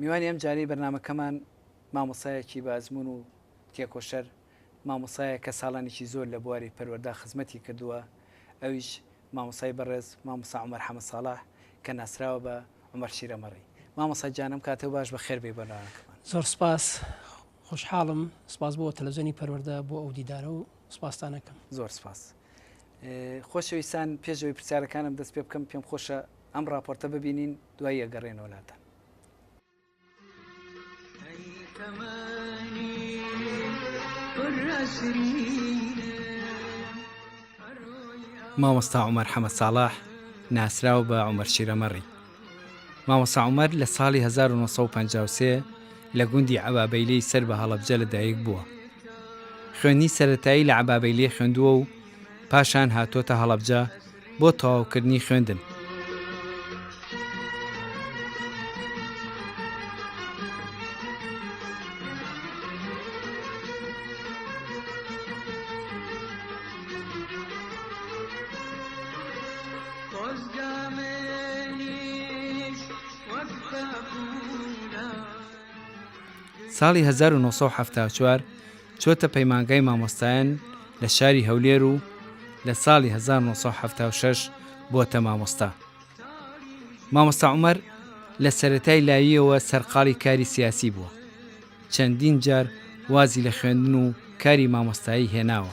میوانی ئەمجارەی بەرنامەکەمان مامۆستایەکی بە ئەزموون و تێکۆشەر، مامۆستایەکە ساڵانێکی زۆر لە بواری پەروەردە خزمەتی کردووە، ئەویش مامۆستای بەڕێز مامۆستا عومەر حەمە ساڵح کە ناسراوە بە، عومەر شیرەمەڕی. مامۆستا گیان ئەم کاتەو باش بەخێر بێی بۆ ناوەندەکەمان. زۆر سپاس، خۆشحاڵم، سپاس بۆ تەلەڤزیۆنی پەروەردە بۆ ئەو دیدارە و سپاستان ئەکەم. زۆر سپاس. خۆشەویستان پێش ئەوەی پرسیارەکانم دەست پێ بکەم پێم خۆشە ئەم ڕاپۆرتە ببینین دوایی ئەگەڕێنەوە لاتان. مامۆستا عومەر حەمە ساڵح ناسراو بە عومەر شیرەمەڕی مامۆسا عومەر لە ساڵی 1953 لە گوندی عبابەیلەی سەر بە هەڵەبجە لە دایک بووە خوێنی سەتایی لە عبابەیلێ خوێندووە و پاشان هاتووەتە هەڵەبجە بۆ تەواوکردنی خوێندن. ساڵی 1970 چۆتە پەیمانگای مامۆستایان لە شاری هەولێر و لە ساڵی هەزار و نۆ سەد و حەفتا و شەش بۆتە مامۆستا. مامۆستا عومەر لە سەرەتای لاییەوە سەرقاڵی کاری سیاسی بووە. چەندین جار وازی لە خوێندن و کاری مامۆستایی هێناوە.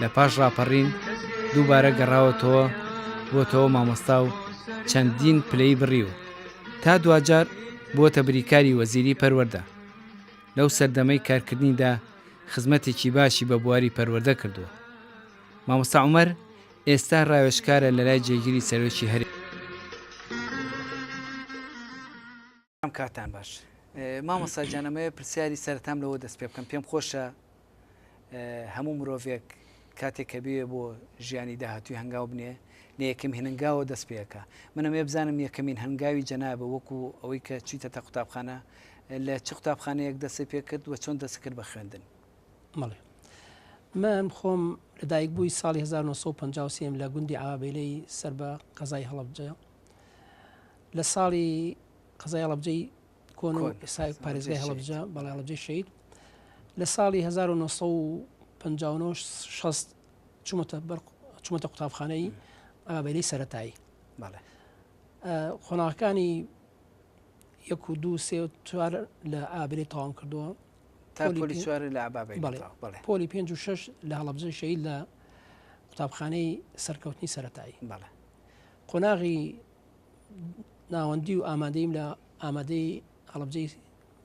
لە پاش ڕاپەڕین دووبارە گەڕاوەتەوە بۆتەوە مامۆستا و چەندین پلەی بڕی و تا دواجار بووەتە بریکاری وەزیری پەروەەردە لەو سەردەمەی کارکردنیدا خزمەتێکی باشی بە بواری پەروەەردە کردووە مامۆستا عمر ئێستا راوێشکارە لەلای جێگیری سەرۆکی هەرێ برام کاتان باش مامۆستا گیان ئەمەوێ پرسیاری سەرتام لەوە دەست پێ بکەم پێم خۆشە هەموو مرۆڤێک کاتێک کە بوێ بۆ ژیانی داهاتوی هەنگاو بنێ لە یەکەم هێننگاوە دەست پێەکە منەمێ بزانم یەکەمین هەنگاوی جەنابە وەکو ئەوەی کە چیتە تا قوتابخانە لە چ قوتابخانەیەک دەستی پێ کرد وە چۆن دەست کرد بە خوێندن مەڵێ من خۆم لەدایک بووی ساڵی 1950 لە گوندی ئاوابیلەی سەر بە قەزای هەڵبجە لە ساڵی قەزای هەڵەبجەی کۆن و ئێسای پارێزگای هەڵەبجە بەڵێ هەڵەبجەی شەید لە ساڵی 1950 چومەتە بەر چومەتە قوتابخانەی ئابێری سەتایی قۆناغەکانی یەک و دوو سێ چوار لە ئابرێ تاوام کردووە پۆلی پێ و شش لە هەڵبجە شەید لە قوتابخانەی سەرکەوتنی سەتایی قۆناغی ناوەندی و ئامادەیم لە ئامادەی هەڵبجەی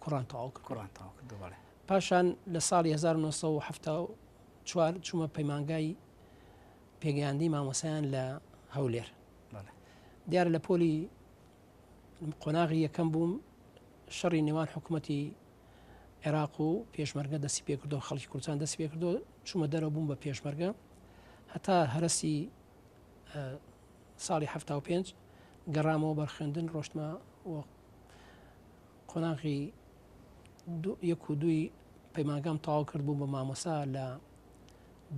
کوڕان تاو کرد کوڕان تاو کرد پاشان لە ساڵی 1970 چوومە پەیمانگای پێگەیاندی مامۆسایان لە هەولێر دیار لە پۆلی قۆناغی یەکەم بووم شەڕی نێوان حکوومەتی عێراق و پێشمەرگە دەستی پێکردو خەڵکی کوردستان دەست پێکردو چوومە دەرە بووم بە پێشمەرگە هەتا هەرسی ساڵی حەفتا و پێنج گەڕامەوە بەر خوێندن ڕۆشتمە و قۆناغی یەک و دووی پەیمانگام تاو کرد بوو بە مامۆسا لە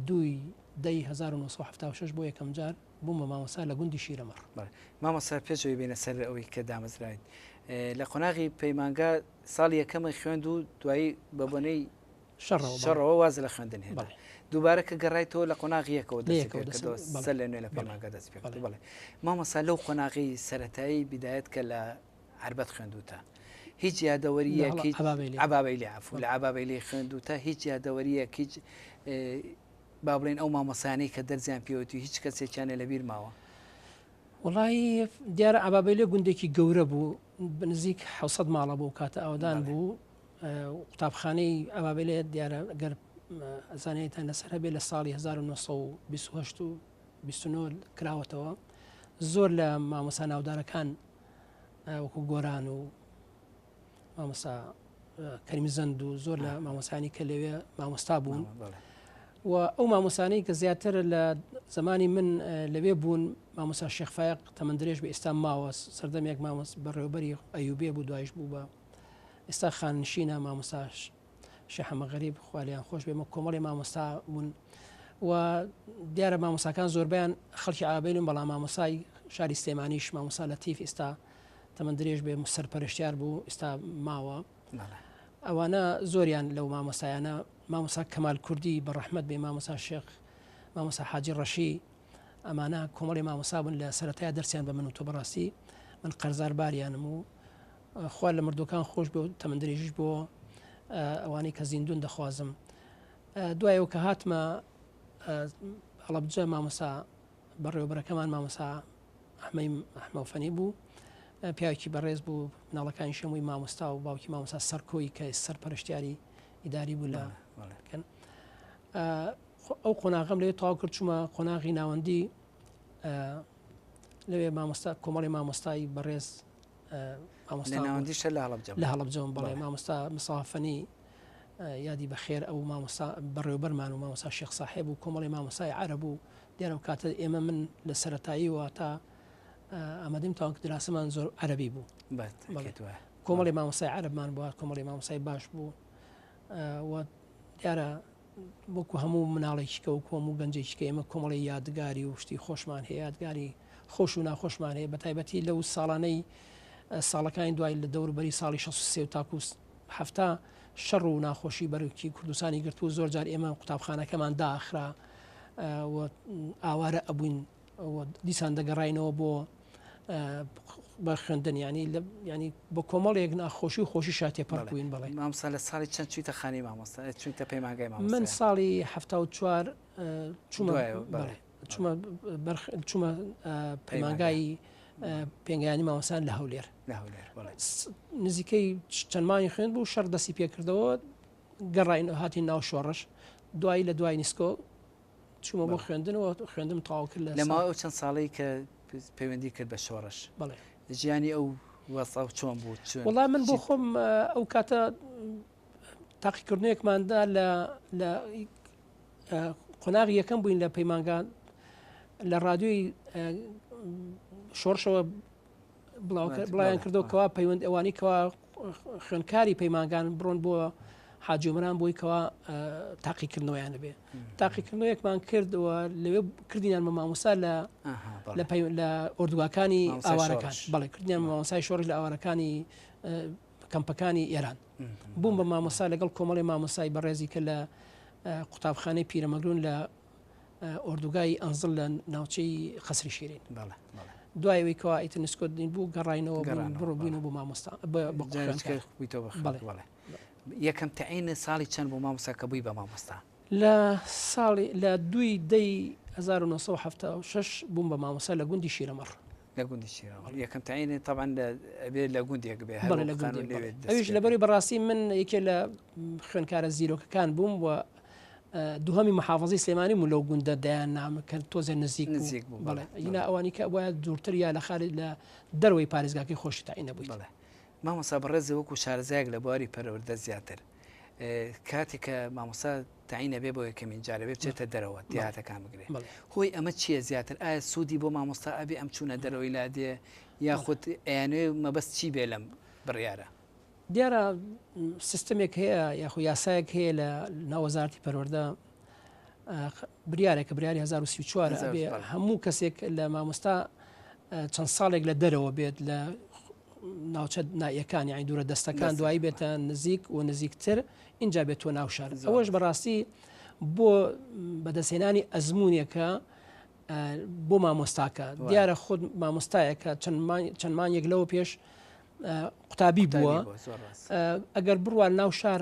دوی دەی 1970 بۆ یەکەم جار بووم بە مامۆسا لە گوندی شیرەمەڕ مامۆسا پێشەوەی بینە سەر ئەوەی کە دامەزراین لە قۆناغی پەیمانگا ساڵ یەکەمە خوێند و دوایی بە بۆنەی شەڕەوە واز لە خوێندن هێنا. دووبارە کە گەڕایتەوە لە قۆناغی یەکەوە دەستی پێ کردەوە، سەر لە نوێ لە پەیمانگا دەستی پێ کرد. بەڵێ. مامۆستا لەو قۆناغی سەرەتایی بیدایەت کە لە عەربەت خوێندووتە، هیچ یادەوەرییەک، عەبابەیلی عەفو، لە عەبابەیلی خوێندووتە، هیچ یادەوەرییەک، هیچ با بڵێین ئەو مامۆستایانەی کە دەرسیان پێوەتی و هیچ کەسێکیان لێ لەبیر ماوە؟ وەڵایی دیارە عەبابەیلی گوندێکی گەورە بوو، بە نزیک حەوت سەد ماڵە بۆ ئەو کاتە ئاوەدان بوو. قوتابخانەی ئەبابێلێ دیارە گەر زانیاریتان لەسەر هەبێ لە ساڵی 1920 و 29 کراوەتەوە زۆر لە مامۆسا ناودارەکان وەکو گۆران و مامۆسا کەریم زەند و زۆر لە مامۆسانی کە لەوێ مامۆستا بوون و ئەو مامۆسانەی کە زیاتر لە زمانی من لەوێ بوون مامۆسا شێخفاق تەمەندرێژ بە ئێستا ماوە سەردەمێک مامۆس بەڕێوبەری ئەیوبێ بوو دوایش بوو بە ئێستا خاننشینە مامۆستا شەحەمە غەریب خوالیان خۆش بێمە کۆمەڵی مامۆستا بوون و دیارە مامۆساکان زۆربیان خەڵکی ئابین و بەڵام مامۆسای شاری سلێمانیش مامۆسا لە تیف ئێستا تەمەند درێژ بێ سەر پەرشتیار بوو ئێستا ماوە ئەوانە زۆریان لەو مامۆسایانە مامۆسا کەمال کوردی بە ڕەحمت بێ مامۆسا شێخ مامۆسا حاجی ڕەشی ئەمانە کۆمەڵی مامۆسا بوون لە سەتای دەرسیان بە من و تۆ بەڕاستی من قەرزار باریانم و خوا لە مردووەکان خۆشبێ و تەمەن درێژیش بۆ ئەوانەی کە زیندوون دەخوازم دوای ئەو کە هاتمە هەڵەبجە مامۆسا بەڕێوەبەرەکەمان مامۆسا ئەحمەی ئەحمەفەنی بوو پیاوکی بەڕێز بوو ناڵەکانی شەمووی مامۆستا و باوکی مامۆسا سەرکۆی کە سەر پەرشتیاری ئیداری بوو لە کەن ئەو قۆناغم لێ تاو کرد چوومە قۆناغی ناوەندی لەوێ مامۆستا کۆمەڵی مامۆستایی بەڕێز لە ناوەندی شەر لە هەڵەبجەوەم بەڵێ مامۆستا مساوا فەنی یادی بەخێر ئەو مامۆستا بەڕێوبەرمان و مامۆسا شێخ ساحێب و کۆمەڵی مامۆسای عرب و دیارم کاتە ئێمە من لە سەتایی وە تا ئامادەم تاوان کە دراسەمان زۆر عربی بوو کۆمەڵی مامۆسای عربمان بووە کۆمەڵی مامۆسای باش بوو دیارە وەکو هەموو مناڵێکیکە وەکو هەموو گەنجێکیکە ئێمە کۆمەڵی یادگاری و شتی خۆشمان هەیە یادگاری خۆش و ناخۆشمان هەیە بە تایبەتی لەو ساڵانەی ساڵەکانی دوای لە دەوربەری ساڵی 16 تاکوس هەفتا شەڕ و ناخۆشی بەرکی کوردستانی گرتو زۆر جار ئێمە قوتابخانەکەمان داخرا ئاوارە ئەبووین دیسان دەگەڕینەوە بۆ بە خوێندن ینی ینی بە کۆمەڵێک ناخۆشی و خۆشی شاتێ پڕکوین بڵێ مامسا لە ساڵی چەند چویتە خانی مامۆستا چویتە پەیماگای من ساڵی ه چوار چوومە چوومە چوومە پەیماگایی پێنگیانی ماوەسان لە هەولێر نزیکەی چەندمانی خوێن بوو شەر دەستی پێکردەوە گەڕین هاتی ناو شۆڕش دوایی لە دوای نیسکۆ چوومە بۆ خوێندنەوە خوێندم تەواو کرد لە لەماوەی ئەو چەند ساڵەی کە پەیوەندی کرد بە شۆڕش بەڵێ ژیانی ئەو وەسە و چۆن بوو چۆن وڵا من بۆ خۆم ئەو کاتە تاقیکردنێکماندا لە لە قۆناغ یەکەم بووین لە پەیمانگان لە ڕادیۆی شۆڕشەوە بڵاویان کردەوە کەوا پەیوەند ئەوانی کەوا خوێنکاری پەیمانگان بڕۆن بۆ حاجۆمران بۆی کەوا تاقیکردنەوەیان نەبێ تاقیکردنەوەیەکمان کردەوە لەوێ کردینان بە ماموسا لە لە ئۆردوگاکانی ئاوارەکان بەڵێ کردیان مامۆسای شۆڕی لە ئاوارەکانی کەمپەکانی ئێران بووم بە مامۆسا لەگەڵ کۆمەڵی مامۆسای بەڕێزی کە لە قوتابخانەی پیرەمەگرون لە ئۆردوگای ئەنزڵ لە ناوچەی قەسری شیرین بەڵێ دوایەوەی کەوا ئیتر نسکۆتین بوو گەڕینەوە بڕۆبووینە بۆ مامۆستا بڵێ یەکەم تعینە ساڵی چەند بۆ مامۆستا کە بووی بە مامۆستا لە ساڵی لە دوی دەی 1970 بووم بە مامۆسا لە گوندی شیرەمەڕ لە گوندی شیرەوە یەکەم تعینی تاوان لەبێت لە گوندێک بێ ئەوش لەبەری بەڕاستی من یەکێ لە خوێنکارە زیرۆکەکان بووم و دوهەمی محافەزەی سلێمانی بوو لەو گوندە دەیان نامە کە تۆزێ نزیک نزیک بوو بەڵێ ئینا ئەوانی کە وایە دوورتر یا لە خارج لە دەروەی پارێزگاکەی خۆشی تاین نەبووی بڵێ مامۆسا بەڕێزە وەکو شارەزایەک لە بواری پەروەردە زیاتر کاتێک کە مامۆسا تاینە بێ بۆ یەکەمین جارە بێ بچێتە دەرەوە دیاتەکان بگرێت هۆی ئەمە چییە زیاتر ئایا سوودی بۆ مامۆستا ئەبێ ئەم چوونە دەرەوەی لا دێ یاخود ئەیانوێ مەبەست چی بێ لەم بڕیارە دیارە سیستمێک هەیە یاخو یاسایەک هەیە لە ناوەزارتی پەروەەردە بریارێکە بریاری 1940 هەموو کەسێک لە مامۆستا چەند ساڵێک لە دەرەوە بێت لە ناوچە نایەکان یانی دوورە دەستەکان دوایی بێتە نزیک و نزیکتر اینجا بێت تۆ ناو شار ئەوەش بەڕاستی بۆ بەدەستێنانی ئەزمونونێکە بۆ مامۆستاکە دیارە خود مامۆستایەکە چەندمان یەک لەوە پێش قوتابی بووە ئەگەر بڕوان ناو شار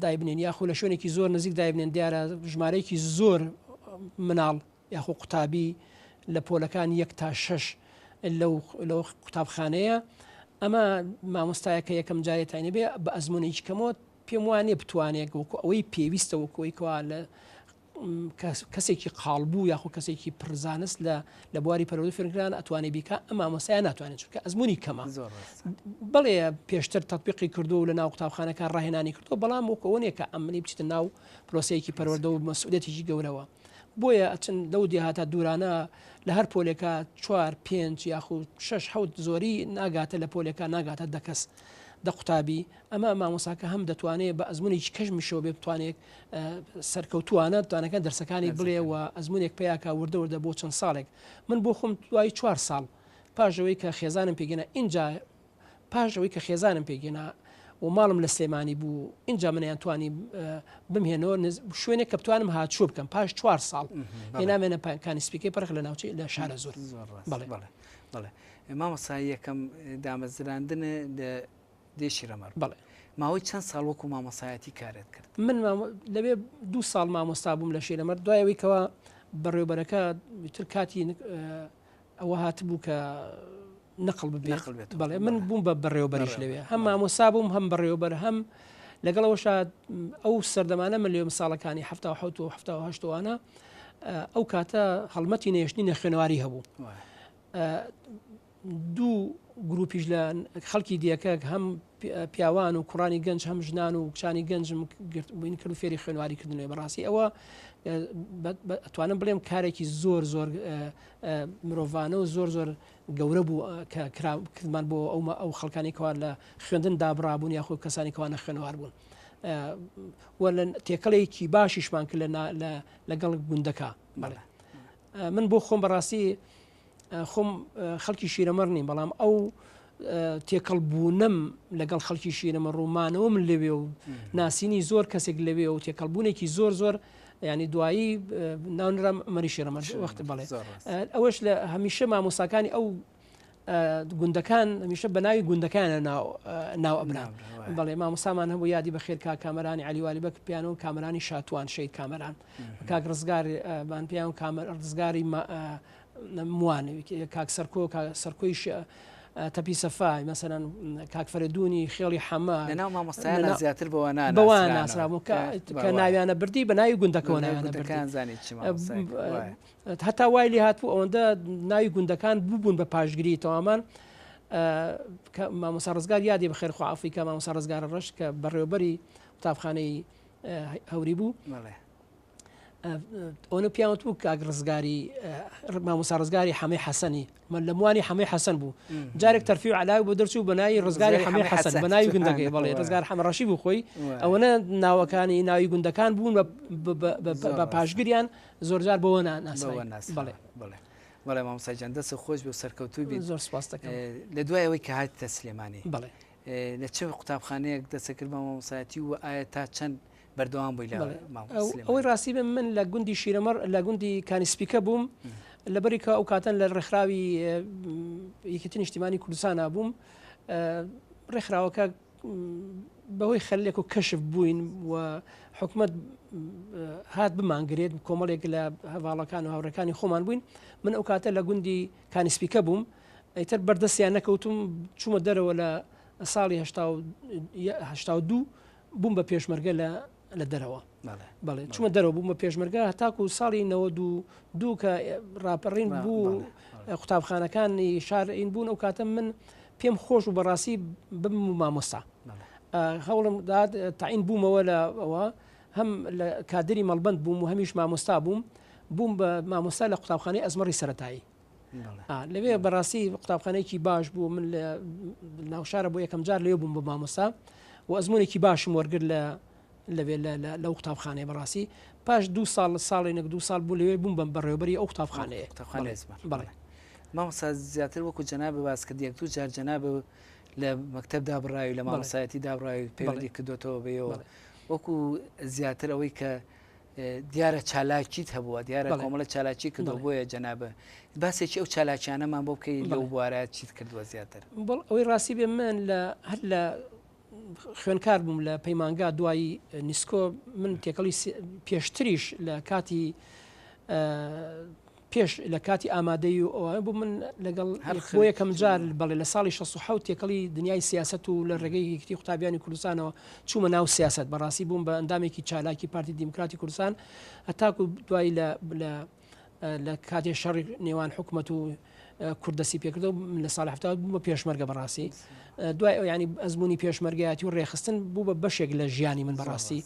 دایبنێن یاخو لە شوێنێکی زۆر نزیک دایبنێن دیارە ژمارەیەکی زۆر مناڵ یاخو قوتابی لە پۆلەکان یەک تا شش لەو قوتابخانەیە ئەمە مامۆستایەکە یەکەم جارێت تاینە بێ بە ئەزمونێکی کەمەوە پێم وانێ بتوانێت وەکو ئەوەی پێویستە وەکۆیکەوە لە کەسێکی قاڵبوو یاخو کەسێکی پرزانست لە لە بواری پەرۆدە فێنکران ئەتوانێ بیکە ئەم مامۆسایە ناتوانێت چونکە ئەزمموی کەمە بڵێ پێشتر تطببیقی کردو لە ناو قوتابخانەکە ڕاهێنانی کردو بەڵام وکەوەنێ کە ئەمنی بچیتە ناو پرۆسەیەکی پەروەەردە و مەسوولەتێکی گەورەوە بۆیە ئەچن لەو دیهاتە دوورانە لە هەر پۆلێکە چوار پێنج یاخود شش حوت زۆری ناگاتە لە پۆلەکە ناگاتە دەکەس دە قوتابی ئەمە مامۆساکە هەم دەتوانێت بە ئەزمونێکی کەژمیشەوە بێ بتوانێت سەرکەوتوانە توانەکە دەرسەکانی بڵێ و ئەزمونێک پیاکە وردەوردە بۆ چەند ساڵێک من بۆ خۆم دوای چوار ساڵ پاشەوەی کە خێزانم پێگەنا اینجا پاشەوەی کە خێزانم پێگەنا و ماڵم لە سلێمانی بوو اینجا منیان توانی بمهێنەوە شوێنێک کە بتوانم هاچوو بکەم پاش چوار ساڵ هێنامێنە پایکانی سپیکەی پرخ لە ناوچی لە شارە زۆر بڵێ بڵێ بڵێ مامەسا یەکەم دامەزراندنە دێشی رەمەر، بەڵێ. ماوەی چەند ساڵ وەکو مامۆستایەتی کارت کرد؟ من لەوێ دوو ساڵ مامۆستا بووم لە شیرەمەر، دوای ئەوەی کەوا بەڕێوەبەرەکە ئیتر کاتی ئەوە هاتبوو کە نقڵ ببێت. نقل بێت. بەڵێ من بووم بە بەڕێوەبەریش بەڕێوەبەر. لەوێ، هەم بەڵێ. مامۆستا بووم، هەم بەڕێوەبەر، هەم لەگەڵەوەشا ئەو سەردەمانە من لەوێم ساڵەکانی حەفتا و حەوت و حەفتا و هەشت و وانە، ئەو کاتە هەڵمەتی نەهێشتنی نەخوێنەواری هەبوو. وایە. دوو گروپیش لە خەڵکی دێکەک هەم پیاوان و کوڕانی گەنج هەم ژنان و کچانی گەنجم گرت بووین کرد و فێری خوێنواری کردنێ بەڕاستی ئەوە توانم بڵێم کارێکی زۆر زۆر مرۆڤانە و زۆر زۆر گەورە بوو کە کردمان بۆ ئەومە ئەو خەڵکانی کەوار لە خوێندن دابڕابوون یاخۆ کەسانی کەوانە خوێنوار بوون لە تێکەڵێکی باشیشمان کرد لەگەڵ گوندەکە من بۆ خۆم بەڕاستی خۆم خەڵکی شیرەمەڕ نیم بەڵام ئەو تێکەڵ بوونم لەگەڵ خەڵکی شیرەمە ڕوومانەوە من لەوێ و ناسینی زۆر کەسێک لەوێ و تێکەڵبوونێکی زۆر زۆر ینی دوایی ناونرا مەری شێرەمە وەخت بڵێ ئەوەش لە هەمیشە مامۆساکانی ئەو گوندەکان هەمیشە بە ناوی گوندەکانە ناو ئەبرا بەڵێ مامۆسامان هەبوو یادی بە خێرکا کامەرانی علیوالی بەک پیانەوە کامرانی شاتوان شەید کامەران کاک ڕزگار بان پیاون کامە ڕزگاری موانەوی کاک سەرکۆ سەرکۆی تەپی سەفای مەسەرەن کاکفرەدونی خێڵی حەمە لەناو مامۆستایان زیاتر بەوە بەوە ناسرابوو کە ناویانە بردی بە ناوی گوندەکەەوە ناویانەکان زانانی هەتا وای لێ هاتبوو ئەوەندە ناوی گوندەکان ببوون بە پاشگری تەوامان مامۆسا ڕزگار یادی بەخێر خوافی کە مامۆسا ڕزگارە ڕەش کە بەڕێوبەری قوتابخانەی هەوری بوو ئەوە پیاوت بوو کاک ڕزگاری مامۆسا ڕزگاری حەمەی حەسەنی من لە موانی حەمەی حەسەن بوو جارێک تەرفی و علاوی بۆ دەرچوو بەناوی ڕزگاری حەمەی حەسەن بەناوی گوندەکەی بەڵێ ڕزگار حەمەڕەشی بوو خۆی ئەوەنە ناوەکانی ناوی گوندەکان بوون بە پاشگریان زۆرجار بۆەوە ناس بڵێ بڵێ بەڵێ مامۆساجان دەست خۆش بۆ سەرکەوتوو بین زۆر سپاستەکە لە دوایەوەی کە هاتە سلێمانی بڵێ لە چ قوتابخانەیەک دەستت کرد بە مامۆستایەتی و ئایا تا چەند بەردەوام بووی لە مامۆستای سلێمانی؟ ئەوەی ڕاستی بێ من لە گوندی شیرەمەڕ لە گوندی کانی سپیکە بووم لەبەری کە ئەو کاتەن لە ڕێکخراوی یەکێتی نیشتیمانی کوردستانا بووم ڕێکخراوەکە بەهۆی خەلێک و کەشف بووین و حکومت هات بمانگرێت کۆمەڵێک لە هەواڵەکان و هاوڕەکانی خۆمان بووین من ئەو کاتە لە گوندی کانیسپیکە بووم ئیتر بەردەستیان نەکەوتوم چومە دەرەوە لە ساڵی هەشتا و هەشتا و دوو بووم بە پێشمەرگە لە لە دەرەوە بەڵێ بەڵێ چومە بەڵێ. دەرەوە بووم بە پێشمەرگە هەتاکو و ساڵی نەوەد و دوو کە ڕاپەڕین بە بوو بەڵێ بەڵێ. ە قوتابخانەکانی شار ئین بوون ئەو کاتە من پێم خۆش بوو بەڕاستی بم مامۆستا بەڵێ. ئا هەوڵم دا تەعین بوومەوە لە ئەوە هەم لە کادری مەڵبەند بووم و هەمیش مامۆستا بووم بووم بە مامۆستا لە قوتابخانەی ئەزمەڕی سەرەتایی لەوێ بەڕاستی قوتابخانێکی باش بوو من لە ناوشارە بۆ یەکەم جار لێ بووم بە مامۆسا و ئەزمونێکی باشم وەرگر لە لەوێ لە قوتابخانەیە بەڕاستی پاش دو ساڵ لە ساڵی نەک دو ساڵ بوو لەوێ بووم بەم بەڕێوبەری ئەو قوتابخانەیە بڵێ مامۆسا زیاتر وەکو جەنا بەواز کرد یەک دوو جار جەنا بە لە مەکتب دابڕاوی لە مامۆسایەتی دابڕاوی پێوەندی کردوێتەوە بەیەوە وەکو زیاتر ئەوەی کە دیارە چالاکیت هەبووە دیارە کۆمەڵە چالاکی کردەوە بۆیە جەنابە باسێکی ئەو چالاکیانەمان بۆ بکەی لەو بوارە چیت کردووە زیاتر بڵ ئەوەی ڕاستی بێ من لە هەر لە خوێنکار بووم لە پەیمانگا دوایی نیسکۆ من تێکەڵی پێشتریش لە کاتی پێش لە کاتی ئامادەی و ئەوان بوو من لەگەڵ بۆ یەکەم جار بەڵێ لە ساڵی 16 تێکەڵی دنیای سیاست و لە ڕێگەی یەکتی قوتابیانی کوردستانەوە چوومە ناو سیاست بەڕاستی بووم بە ئەندامێکی چالاکی پارتی دیموکراتی کوردستان هەتاکو دوای لە لە کاتێ شەڕی نێوان حکوومەت و کوردسی پێکرد و لە سال هەفتا بوو بە پێشمەرگە بەڕاستی دوای ئەو ینی ئەزمموی پێشمەرگایەتی و ڕێخستن بوو بە بەشێک لە ژیانی من بەڕاستی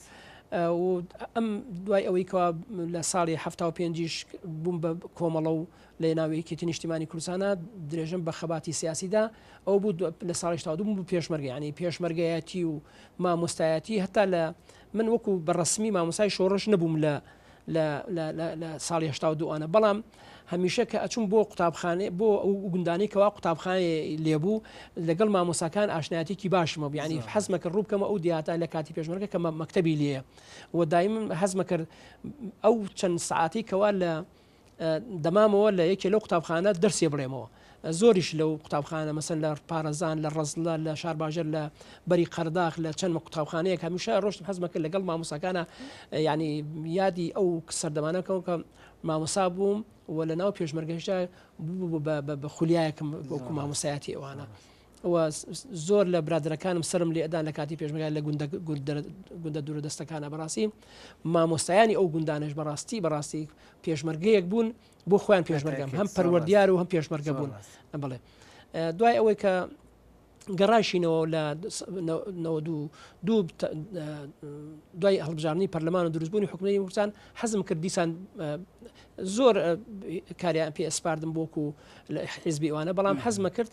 و ئەم دوای ئەوەی کەوا لە ساڵی حەفتا و پێنجیش بووم بە کۆمەڵە و لە ناو یەکێتی نیشتیمانی کوردستانە درێژم بە خەباتی سیاسیدا ئەو بوو لە ساڵی شتا و دوو بوو پێشمەرگەیانی پێشمەرگایەتی و مامۆستایەتی هەتا لە من وەکو بەڕەسمی مامۆستای شۆڕش نەبووم لە لە لە لە لە ساڵی هەشتا و دوو ئانە بەڵام هەمیشە کە ئەچووم بۆ قوتابخانێ بۆ ئەو گوندانەی کەوا قوتابخانێ لێبوو لەگەڵ مامۆساکان ئاشنایەتێکی باشم هەبوو یعنی زۆر حەزمە کە ڕووبکەمە ئەو دیاتە لە کاتی پێشمەرگە کە مە- مەکتەبی لێیە و دایم حەزمە کرد ئەو چەند سعاتەی کەوا لە دەمامەوە لە یەکێ لەو قوتابخانە دەرسێ بڵێمەوە. زۆریش لەو قوتابخانە مەسەن لە پارەزان، لە ڕەزلە، لە شارباژێر، لە بەری قەرداخ، لە چەند قوتابخانەیەک هەمیشە ئەڕۆشتم حەزمە کرد لەگەڵ مامۆساکانە یانی یادی ئەو سەردەمانە کەم کە مامۆسا بووم و لە ناو پێشمەرگەشدا بە خولیایەکم وەکو مامۆسایەتی ئەوانە. و زۆر لە برادەرەکانم سەرم لێ ئەدان لە کاتی پێشمەگای لە گوندە دوورە دەستەکانە بەڕاستی مامۆستایانی ئەو گوندانش بەڕاستی بەڕاستی پێشمەرگەیەک بوون بۆ خۆیان پێشمەرگەم هەم پەروەردیار و هەم پێشمەرگە بوون بڵێ دوای ئەوەی کە گەڕایشینەوە لە دوای هەڵبژارنی پەرلەمان و دروستبوونی حکومی وسان حەزم کرد دیسان زۆر کاریان پێ ئەسپاردم بۆکو لە حیزبی ئەوانە بەڵام حەزمە کرد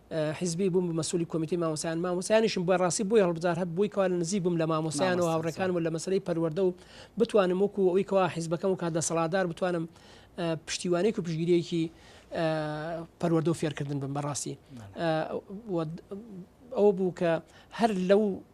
حیزبی بووم بە مەسولی کۆمیتەی مامۆسایان مامۆسایانیشم بە ڕاستی بۆی هەڵبزار هەب بووی کەوا لە نزیک بووم لە مامۆسایان و هاوڕەکان و لە مەسلەی پەروەەردە و بتوانم وەکو ئەوی کەوا حیزبەکەم و کات دەسەڵاتدار بتوانم پشتیوانێک و پشگیریەکی پەروەەردە و فێرکردن بم بەڕاستی ئەو بوو کە هەر لەو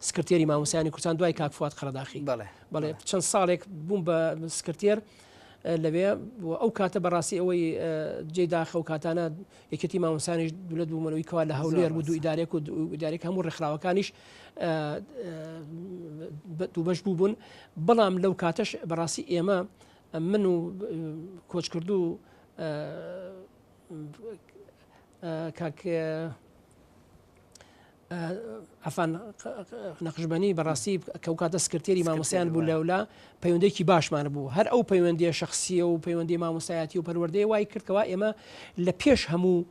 سکرتێری مامۆستایانی کوردستان دوای کاک فواد قەرەداخی بەڵێ بەڵێ چەند ساڵێک بووم بە سکرتێر لەوێ ئەو کاتە بەڕاستی ئەوەی جێ داخە و کاتانە یەکێتی مامۆسانیش دولت بوومەوەی کەوا لە هەولێر بوو دوو ئیدارێک و ئیدارێک هەموو ڕێکخراوەکانیش دووبەش بوو بوون بەڵام لەو کاتەش بەڕاستی ئێمە من و کۆچکردو کاک عەفان نەقشبەنی بەڕاستی کە ئەوکاتە سکرتێری مامۆستایان بوو لەولا پەیوەندێکی باشمان بوو هەر ئەو پەیوەندیە شخصیە و پەیوەندی مامۆستایەتی و پەروەردەی وای کردکەوە ئێمە لە پێش هەموو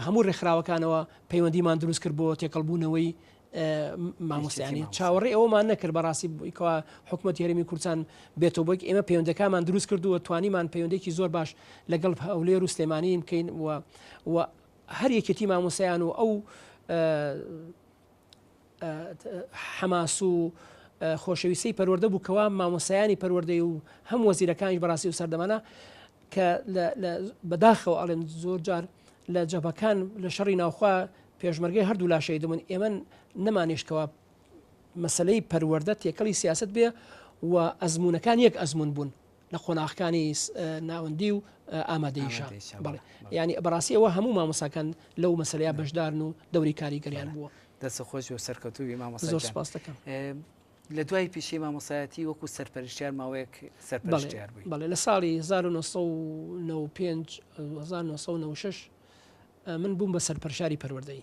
هەموو ڕێکخراوەکانەوە پەیوەندیمان دروست کرد بۆ تێکەڵبوونەوەی مامۆستیانی چاوەڕێ ئەومان نەکرد بەڕاستی بوویکەوە حکوومەت هەرمی کورسان بێتەوە بۆک ئێمە پەیوەندەکانمان دروست کردووە توانیمان پەیوەندێکی زۆر باش لەگەڵ هەولێر و سلێمانیم بکەین و هەر یەکێتی مامۆستایان و ئەو حەماس و خۆشەویستەی پەروەردە بوو کەوا مامۆستایانی پەروەردەی و هەم وەزیرەکانیش بەڕاستی و سەردەمانە کە بەداخەوە ئەڵێن زۆر جار لە جەبەکان لە شەڕی ناوخوا پێشمەرگەی هەردوو لاشەی دەمن ئێمە نەمانیشتکەوە مەسلەی پەروەەردە تێکەڵی سیاست بێ و ئەزمونونەکان یەک ئەزمون بوون لە قۆناخکانی ناوەندی و ئامادەیشە ینی بەڕاستی ئەوە هەموو مامۆساکەن لەو مەسلەیە بەشدارن و دەوری کاریگەریان بووە دەست خۆش و سەرکەوتوی مامۆ زۆر سپاس دەکەم. لە دوای پیشەی مامۆسایەتی وەکو سەرپەرشتیار ماوەیەک سەرپەرشتیار بووی بەڵێ لە ساڵی 1995 من بووم بە سەرپەرشاری پەروەردەی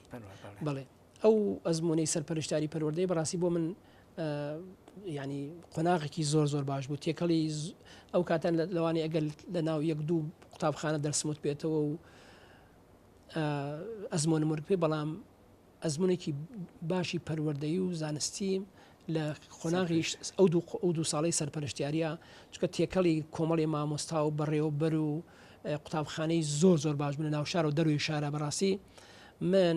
بەڵێ ئەو ئەزمموی سەرپەرشتاری پەروەردەی بەڕاستی بۆ من یانی قۆناغێکی زۆر زۆر باش بوو تێکەڵی ئەو کاتە لەوانی ئەگەر لە ناو یەک دوو قوتابخانە دەرسمت پێێتەوە و ئەزمۆن مرپی بەڵام ئەزمونێکی باشی پەروەردەی و زانستی لە قۆناغیش ئەو دوو ئەو دوو ساڵی سەرپەرشتیاریە چکە تێکەڵی کۆمەڵی مامۆستا و بەڕێوەبەر و قوتابخانەی زۆر زۆر باش بوون ناو شار و دەروی شارە بەڕاستی من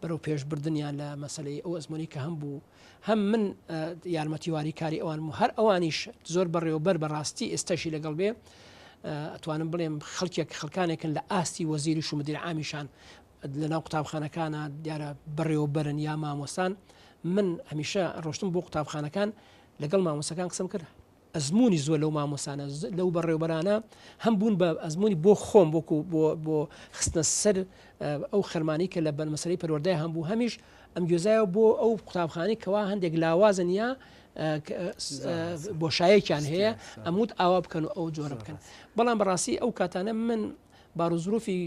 بەرەو پێش بردنیان لە مەسەلەی ئەو ئەزموونەی کە هەم بوو هەم من یارمەتیواری کاری ئەوانم و هەر ئەوانیش زۆر بەڕێوەبەر بە ڕاستی ئێستاشی لەگەڵ بێ ئەتوانم بڵێم خەڵکێک خەڵکانێکن لە ئاستی وەزیری شومدیر ئامیشان لە ناو قوتابخانەکانە دیارە بەڕێوەبەرن یا مامۆستان من هەمیشە ڕۆشتم بۆ قوتابخانەکان لەگەڵ مامۆسەکان قسم کرد ئەزموونی زۆر لەو مامۆستانە، لەو بەڕێوبەرانە هەم بوون بە ئەزموونی بۆ خۆم وەکو بۆ بۆ خستنە سەر ئەو خەرمانەی کە لە بەرمەسەرەی پەروەردەی هەم بوو هەمیش ئەم گوێزایەوە بۆ ئەو قوتابخانەی کەوا هەندێک لاوازن یا بۆشایەکیان هەیە ئەموت ئاوا بکەن و ئەو جۆرە بکەن بەڵام بەڕاستی ئەو کاتانە من باروزروفی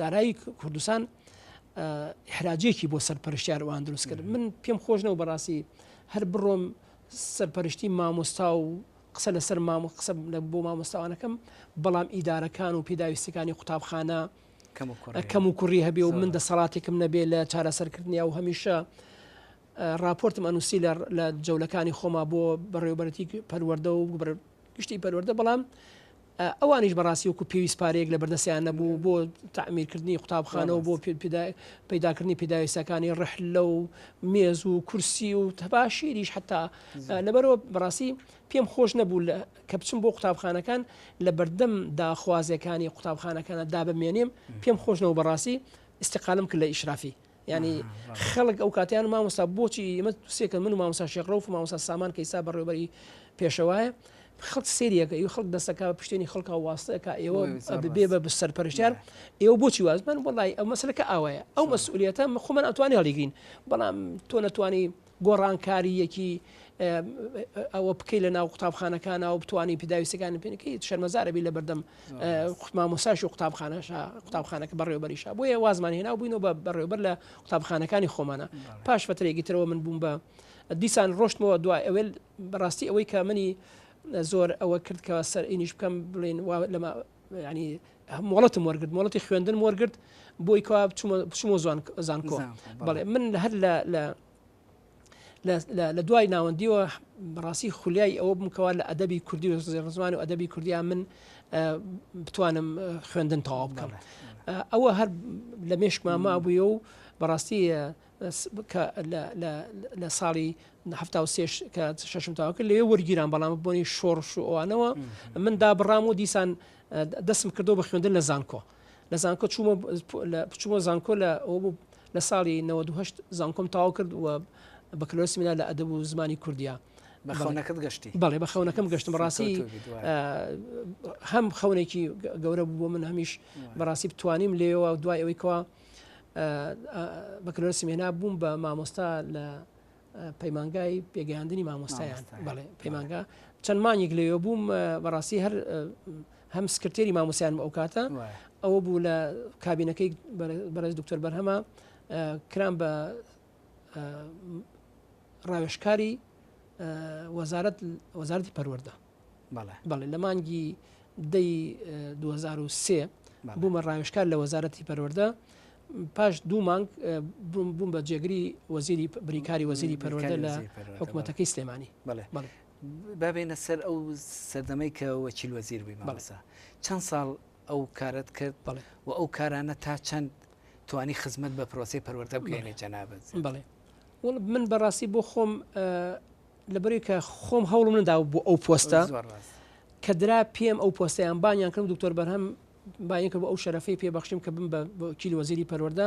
دارایی کوردستان حراجێکی بۆ سەر پەرشتیارەوان دروست کرد من پێم خۆشنەوە بەڕاستی هەر بڕۆم سەرپەرشتی مامۆستا و قسە لەسەر مام قسە بۆ مامۆستاوانەکەم بەڵام ئیدارەکان و پێداویستەکانی قوتابخانە کەم و کوڕی هەبێ و من دەسەڵاتێکم نەبێ لە چارەسەرکردنی و هەمیشە راپۆرتم ئەنووسی لە جەولەکانی خۆما بۆ بەڕێوبەرەتی پەروەەردە و گشتی پەروەەردە بەڵام ئەوانیش بەڕاستی وەکو پێویست پارەیەک لەبەردەستیان نەبوو بۆ تەعمیرکردنی قوتابخانە و بۆ پەیداکردنی پێداویستەکانی ڕحلە و مێز و کورسی و تەباشیریش حتا لەبەرەوە بەڕاستی پێم خۆش نەبوو کە بچم بۆ قوتابخانەکان لە بەردەم داخوازیەکانی قوتابخانەکانە دا بمێنێم پێم خۆشنەوە بەڕاستی استقالم کرد لە ئیشرافی یانی خەڵک ئەو کاتیان مامۆستا بۆچی ئمە سێکە من و مامۆسا شێخ ڕوف و مامۆسا سامان کەیسا بەڕێوبەری پێشەوایە خەڵک سریەکە ی خەڵک دەسەکە بە پشتێنی خەڵکە واستەکە ئێوە بێ بە سەرپەرشتار ئێوە بۆچی وازمان وڵی ئەو مەسلەکە ئاوایە ئەو مەسئولەتە خۆمان ئەتوانی هەڵیگرین بەڵام تۆ نەتوانی گۆڕانکارییەکی ئەوە بکەی لە ناو قوتابخانەکانەوە بتانی پیداویستەکانی پێەکەی شەرمەزارەبی لە بەردەم مامۆساش و قوتابخانەش قوتابخانەکە بەڕێوبەریش بۆیە وازمان هێنا بووین و بە بەڕێوبەر لە قوتابخانەکانی خۆمانە پاش فترێکی ترەوە من بووم بە دیسان ڕۆشتمەوە دوای ئەوێل بەڕاستی ئەوەی کە منی زۆر ئەوە کرد کە سەر ئینیش بکەم بڵێن لەمە ینی مۆڵەتم وەرگرت مۆڵەتی خوێندنم وەرگرت بۆی کەوا بچمە زوان زانکۆ بەڵێ من هەر لە لە لە دوای ناوەندیەوە بەڕاستی خولیای ئەوە بمکەوە لە ئەدەبی کوردی و زێڕزمان و ئەدەبی کوردیا من بتوانم خوێندن تەواو بکەم ئەوە هەر لە مێشکما مابووە و بەڕاستی لە ساڵی هەفتا و سێش کە شەشم تاوکە لێ وەرگیران بەڵام بۆنی شۆڕش و ئەوانەوە من دابڕام و دیسان دەستم کردەوە بە خوێندن لە زانکۆ لە زانکۆ چوومە چوومە زانکۆ لە ئەوە بوو لە ساڵی 98 زانکۆم تاو کرد و بەکلۆسی منا لە ئەدەب و زمانی کوردیا بەخەونەکەت گەشتی بەڵێ بە خەونەکەم گەشتم ڕاستی هەم خەونێکی گەورە بوو بۆ من هەمیش بەڕاستی بتوانیم لێەوە دوای ئەوەی کەوا بەکلۆسی مێنا بووم بە مامۆستا لە پەیمانگای پێگەیاندنی مامۆستایان بەڵێ پەیمانگا چەند مانیک لەوێ بووم بەڕاستی هەر هەم سکرتێری مامۆسیان ئەو کاتە ئەوە بوو لە کابینەکەی بەرز دکتۆر بەرهەمە کران بە ڕاوێشکاری وەزارەت وەزارتی پەروەەردە بەڵێ بەڵێ لە مانگی دەی 2023 بوومە ڕاوشکار لە وەزارەتی پەروەەردە پاش دوو مانگ بووم بە جێگری وەزیری بریکاری وەزیری پەروەەردە لە حکوومەتەکەی سلێمانی بڵێ بابێنە سەر ئەو سەردەمەی کە وەچیل وەزیر بووی مەڵسا چەند ساڵ ئەو کارت کرد بڵێ و ئەو کارانە تا چەند توانی خزمەت بە پرۆسی پەروەەردە بگەێنێ جەنابەت بڵێ من بەڕاستی بۆ خۆم لەبەرئەوەی کە خۆم هەوڵم نەداوە بۆ ئەو پۆستە کە درا پێم ئەو پۆستیان بانیان کردم دکتۆر بەرهەم باین کرد بۆ ئەو شەرەفەی پێ بەخشیم کە بم بە کیل وەزیری پەروەەردە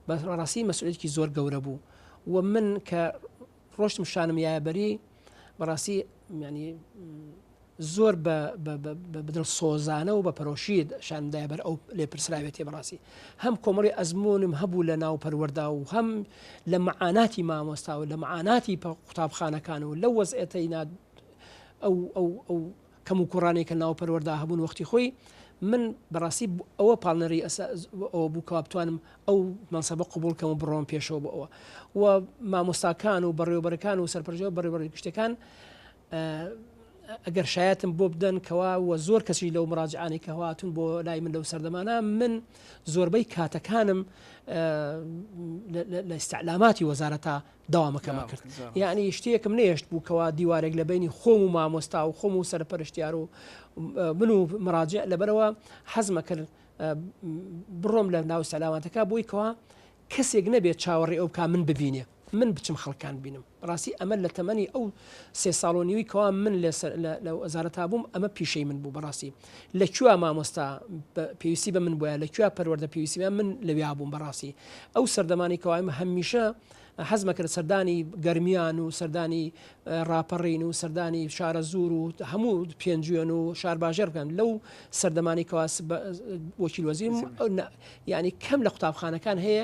بە ڕاستی مەسئولێکی زۆر گەورە بوو و من کە ڕۆشتم شانم یابەری بەڕاستی ینی زۆر بە دڵسۆزانە و بە پەرۆشی شانم دایە بەر ئەو لێپرسراوێتیە بەڕاستی هەم کۆمەڵی ئەزمونم هەبوو لە ناو پەروەەردا و هەم لە مەعاناتی مامۆستا و لە مەعاناتی قوتابخانەکان و لە وەز ئێتەی ناد ئەو کەم و کوڕانی کە ناو پەروەەردا هەبوون وەختی خۆی من بەڕاستی ئەوە پاڵنەری ئەسا ئەوە بوو کە بتوانم ئەو مەنسەبە قوبولکەم و بڕۆم پێشەوە بۆ ئەوە و مامۆستاکان و بەڕێوبەرەکان و سەرپەرژەوە بەڕێوەڕی گشتەکان ئەگەر شایەتم بۆ بدەن کەوا وە زۆر کەسی لەو مراجعانەی کە هاتون بۆ لای من لەو سەردەمانە من زۆربەی کاتەکانم لە ئستعلاماتی وەزارەتە داوامەکەمە کرد یعنی شتێکم نێشت بوو کەوا دیوارێک لە بینی خۆم و مامۆستا و خۆم و سەرپەرشتیار و من و مراجع لەبەرەوە حەزمە کرد بڕۆم لە ناو سەلاماتەکە بۆی کەوا کەسێک نەبێت چاوەڕێ ئەو کا من ببینێ من بچم خەڵکان بینم بەڕاستی ئەمە لە تەمەنی ئەو سێ ساڵ و نیوی کەوا من لە وەزارەتا بووم ئەمە پیشەی من بوو بەڕاستی لە کوێ مامۆستا پێویستی بە من بووە لە کوێ پەروەەردە پێویستی من لەویا بووم بەڕاستی ئەو سەردەمانی کەوایم هەمیشە حەزمەکرد سەردانی گەرمیان و سەردانی راپەڕین و سەردانی شارە زور و هەموو پێنجوێن و شارباژێر بکەن لەو سەردەمانی کەواس وەکیل وەزیم یعنی کەم لە قوتابخانەکان هەیە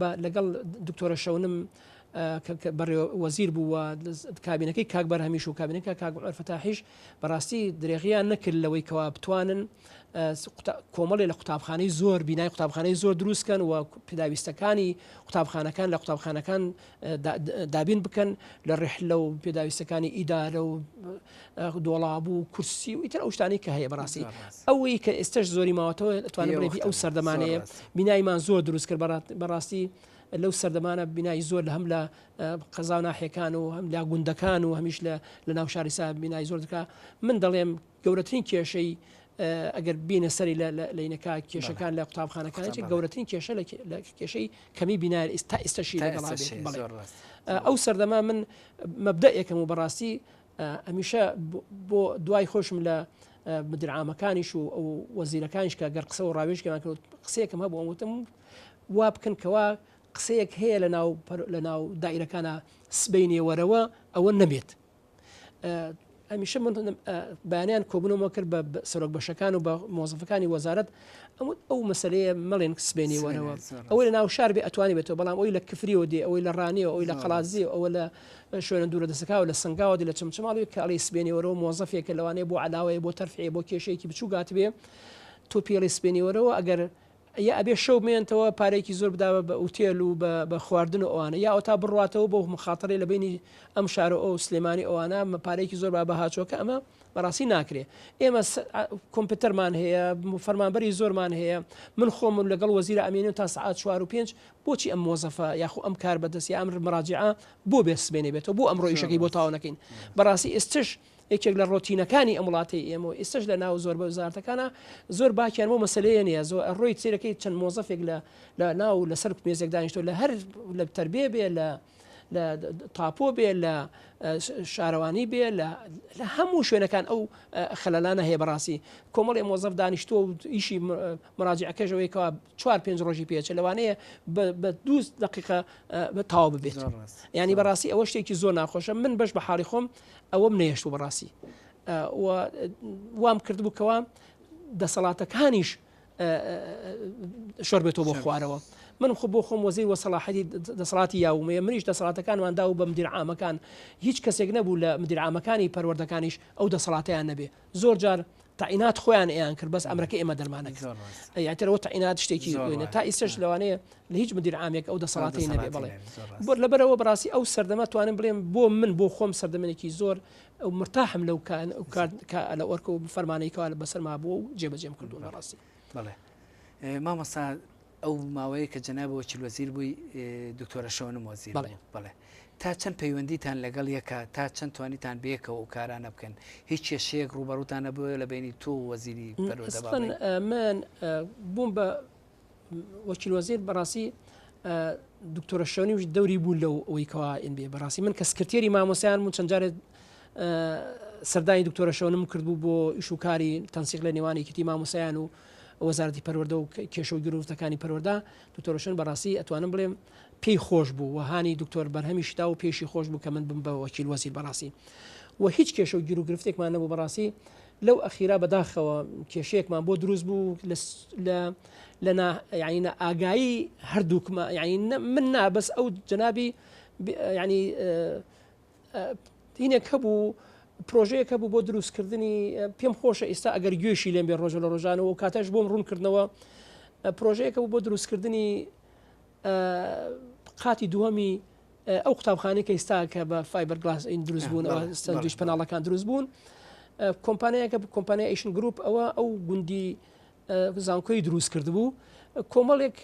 بە لەگەڵ دکتۆرە شەونم بەڕێ وەزیر بوو و کابینەکەی کاک بەر هەمیش و کابینەکە کاگوفەتاحیش بەڕاستی درێغیان نەکرد لەوەی کەوا بتوانن کۆمەڵێ لە قوتابخانەی زۆر بینای قوتابخانەی زۆر دروستکەن و پێداویستەکانی قوتابخانەکان لە قوتابخانەکان دابین بکەن لە ڕێحلە و پێداویستەکانی ئیدارە و دۆڵابوو و کورسی و ئیتر ئەو شتانی کە هەیە بەڕاستی ئەوەی کە ئێستش زۆری ماوەتەوە توانێت بڵێ ئەو سەردەمانەیە بینایمان زۆر دروست کرد بەڕاستی لەو سەردەمانە بینایی زۆر لە هەم لە قەزا ناحەکان و هەم لا گوندەکان و هەمیش لە لە ناو شاریسا بینایی زۆر دکا من دەڵێم گەورەترین کێشەی ئەگەر بینە سەری لە لەینەکە کێشەکان لە قوتابخانەکانێک گەورەترین کێشە لە کێشەی کەمی بینار ئستا ئێستاشی ئەو سەردەما من مەبدە یەکەم و بەڕاستی ئەمیشە بۆ دوای خۆشم لە مدرعامەکانیش و ئەو وەزیرەکانیش کە گەر قسە و ڕاوێژکەمان کرد قسەیەکەم هەبوو ئەوتم وا بکەن کەوا قسەیەک هەیە لە ناو لە ناو دایرەکانە سبینێ وەرەوە ئەوە نەبێت هەمیشە من بەیانیان کۆبنەوە کرد بە سەرۆک بەشەکان و بە مۆزفەکانی وەزارت ئەم ئەو مەسلەیە مەڵێن سبێنی وەرەوە ئەوەی لە ناو شار بێ ئەتوانی بێتەوە بەڵام ئەوی لە کفریەوە دێ ئەوەی لە ڕانیەوە ئەوی لە قەڵازی ئەوە لە شوێنە دوورە دەسەکەەوە لە سنگاوە لە چمچماڵی کاڵی سبێنی وەرەوە مۆزفێکە لەوانەیە بۆ علاوەیە بۆ تەرفێ بۆ کێشەیەکی بچوو گات بێ تۆ پێڵی سبێنی وەرەوە ئەگەر یا ئەبێ شەو بمێنتەوە پارەیەکی زۆر بدا بە ئوتێل و بە خواردن و ئەوانە یا ئەوتا بڕواتەوە بۆ مخاتەرەی لە بەینی ئەم شار و ئەو سلێمانی ئەوانە پارەیەکی زۆر با بەها چۆکە ئەمە بەڕاستی ناکرێ ئێمە کۆمپیوتەرمان هەیە فەرمانبەری زۆرمان هەیە من خۆم و لەگەڵ وەزیرە ئەمێنێن تا سعات چوار و پێنج بۆچی ئەم مۆزەفە یاخو ئەم کار بەدەست یا ئەم مراجعە بۆ بێ سبێنێ بێتەوە بۆ ئەم ڕۆیشەکەی بۆ تاوانەکەین بەڕاستی ئێستش یەکێک لە ڕۆتینەکانی ئەم وڵاتەی ئێمەوە ئێستش لە ناو زۆر بە وزارتەکانە زۆر باکیان بۆ مەسلەیە نیە زۆر ڕۆی سیرەکەی چەند مۆزەفێک لە لە ناو لەسەر مێزێک دانیشتۆ لە هەر لە تربێ بێ لە لە تاپۆ بێ لە شارەوانی بێ لە هەموو شوێنەکان ئەو خەلانە هەیە بەڕاستی کۆمەڵی مۆزەف دانیشتۆ و ئیشی مراجعەکەشەوەیکەوە چوار پێنج ڕۆژی پێچە لەوانەیە بە دوو دقیقە بە تاو ببێت ینی بەڕاستی ئەوە شتێکی زۆر ناخۆشە من بەش بە حاڵی خۆم ئەوەم نەهێشتوو بەڕاستی وام کردبوو کەوا دەسەڵاتەکانیش شۆر بێتەوە بۆ خوارەوە من خۆ بۆ خۆم وەزی وەسەڵاحەتی دەسەڵاتی یاومەیە منیش دەسەڵاتەکانماندا و بە مدیرعامەکان هیچ کەسێک نەبوو لە مدیرعامەکانی پەروەردەکانیش ئەو دەسەڵاتیان نەبێ زۆر جار تاعینات خۆیان ئەیان کرد بەس ئەمرەکە ئێمە دەرمانە یاترەوە تاعینات شتێکی زۆرە تا ئیسش لەوانەیە لە هیچ مدیر عامێک ئەو دەسەڵاتی نەبێ بڵێ بۆ لەبەرەوە بڕاستی ئەو سەردەمە توانم بڵێم بۆ من بۆ خۆم سەردەمێکی زۆر ئەو مرتاحم لەو کان ئەو کار لە ئۆرکە و فەرمانەیەکەوە لە بەسەرما بووە و جێبەجێم کردو لە ڕاستی بڵێ مامەسا ئەو ماوەیە کە جەنابی وەکیل وەزیر بووی دکتۆرە شەونم وەزیر بوو. بەڵێ. بەڵێ. تا چەند پەیوەندیتان لەگەڵ یەکە، تا چەند توانیتان بەیەکەوە ئەو کارانە بکەن؟ هیچ کێشەیەک ڕووبەڕووتان نەبووە لە بەینی تۆ و وەزیری پەروەردە با بڵێین؟ ئەسڵەن من بووم بە وەکیل وەزیر بەڕاستی دکتۆرە شەونیش دەوری بوو لەو ئەوەی کەوا ئین بێ بەڕاستی من کە سکرتێری مامۆستایان بووم چەند جارێت سەردانی دکتۆرە شەونم کردبوو بۆ ئیش و کاری تەنسیق لە نێوان یەکێتی مامۆستایان و وەزارەتی پەروەردە و کێشە و گرۆوتەکانی پەروەردە دکتۆر ڕۆشن بەڕاستی ئەتوانم بڵێم پێی خۆش بوو و هانی دکتۆر بەرهەمیش دا و پێشی خۆش بوو کە من بم بە وەکیل وەزیر بەڕاستی و هیچ کێشە و گیرو گرفتێکمان نەبوو بەڕاستی لەو ئەخیرا بەداخەوە کێشەیەکمان بۆ دروست بوو لە یعنی ئاگایی هەردووکمە یعنی من نابەس ئەو جنابی ینی هینێک هەبوو پرۆژەیەک هەبوو بۆ دروستکردنی پێم خۆشە ئێستا ئەگەر گوێشی لێم بێ ڕۆژە لە ڕۆژانەوە و کاتەش بۆم ڕوونکردنەوە پرۆژەیەکە بوو بۆ دروستکردنی قاتی دووەمی ئەو قوتابخانەی کە ئێستا کە بە فایبەر گلاس ئین دروست بوون سندویش پەناڵەکان دروست بوون کۆمپانیایەکە کۆمپانیا ئیشن گروپ ئەوە ئەو گوندی زانکۆی دروست کرد بوو کۆمەڵێک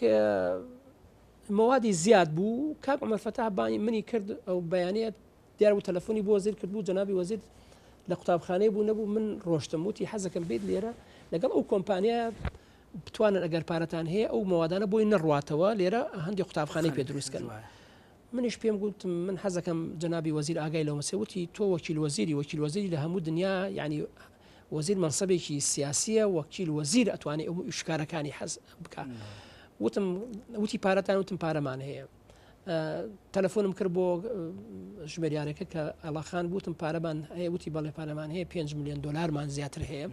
موادی زیاد بوو کاک عمر فتاح بانی منی کرد ئەو بەیانەت دیار بوو تەلەفۆنی بۆ وەزیر کردبوو جەنابی وەزیر لە قوتابخانەی بوو نەبوو من ڕۆشتم وتی حەزەکەم بیت لێرە لەگەڵ ئەو کۆمپانیا بتوانن ئەگەر پارەتان هەیە ئەو موادانە بۆی نەڕاتەوە لێرە هەندی قوتابخانەی پێ دروست کردن منیش پێم گوتم من حەزەکەم جەنابی وەزیر ئاگای لەو مەسەوتی تۆ وەکیل وەزیری وەکیل وەزیری لە هەموو دنیا یعنی وەزیر منسەبێکی سیاسیە وەکیل وەزیر ئەتوانێت ئەو شکارەکانی حەز بکە وتم وتی پارەتان وتم پارەمان هەیە تەلەفۆنم کرد بۆ ژمێریارەکە کە ئەڵاخان بوتم پارەمان هەیە وتی بەڵێ پارەمان هەیە 5 میلیۆن دلارمان زیاتر هەیە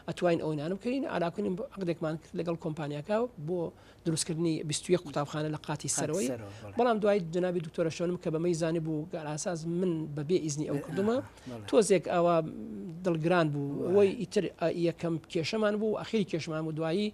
ئەتوین ئەوینانم کردین ئاراکردین عقدێکمان کرد لەگەڵ کۆمپانیاکە بۆ دروستکردنی 21 قوتابخانە لە قاتی سەرەوەی بەڵام دوای جنابی دکتۆرە شوێنم کە بەمەی زانی بوو گەراساز من بەبێ ئیزنی ئەو کردمە تۆزێک ئەوە دڵگران بوو ئەوەی ئیتر یەکەم کێشەمان بوو ئەخیری کێشمان و دوایی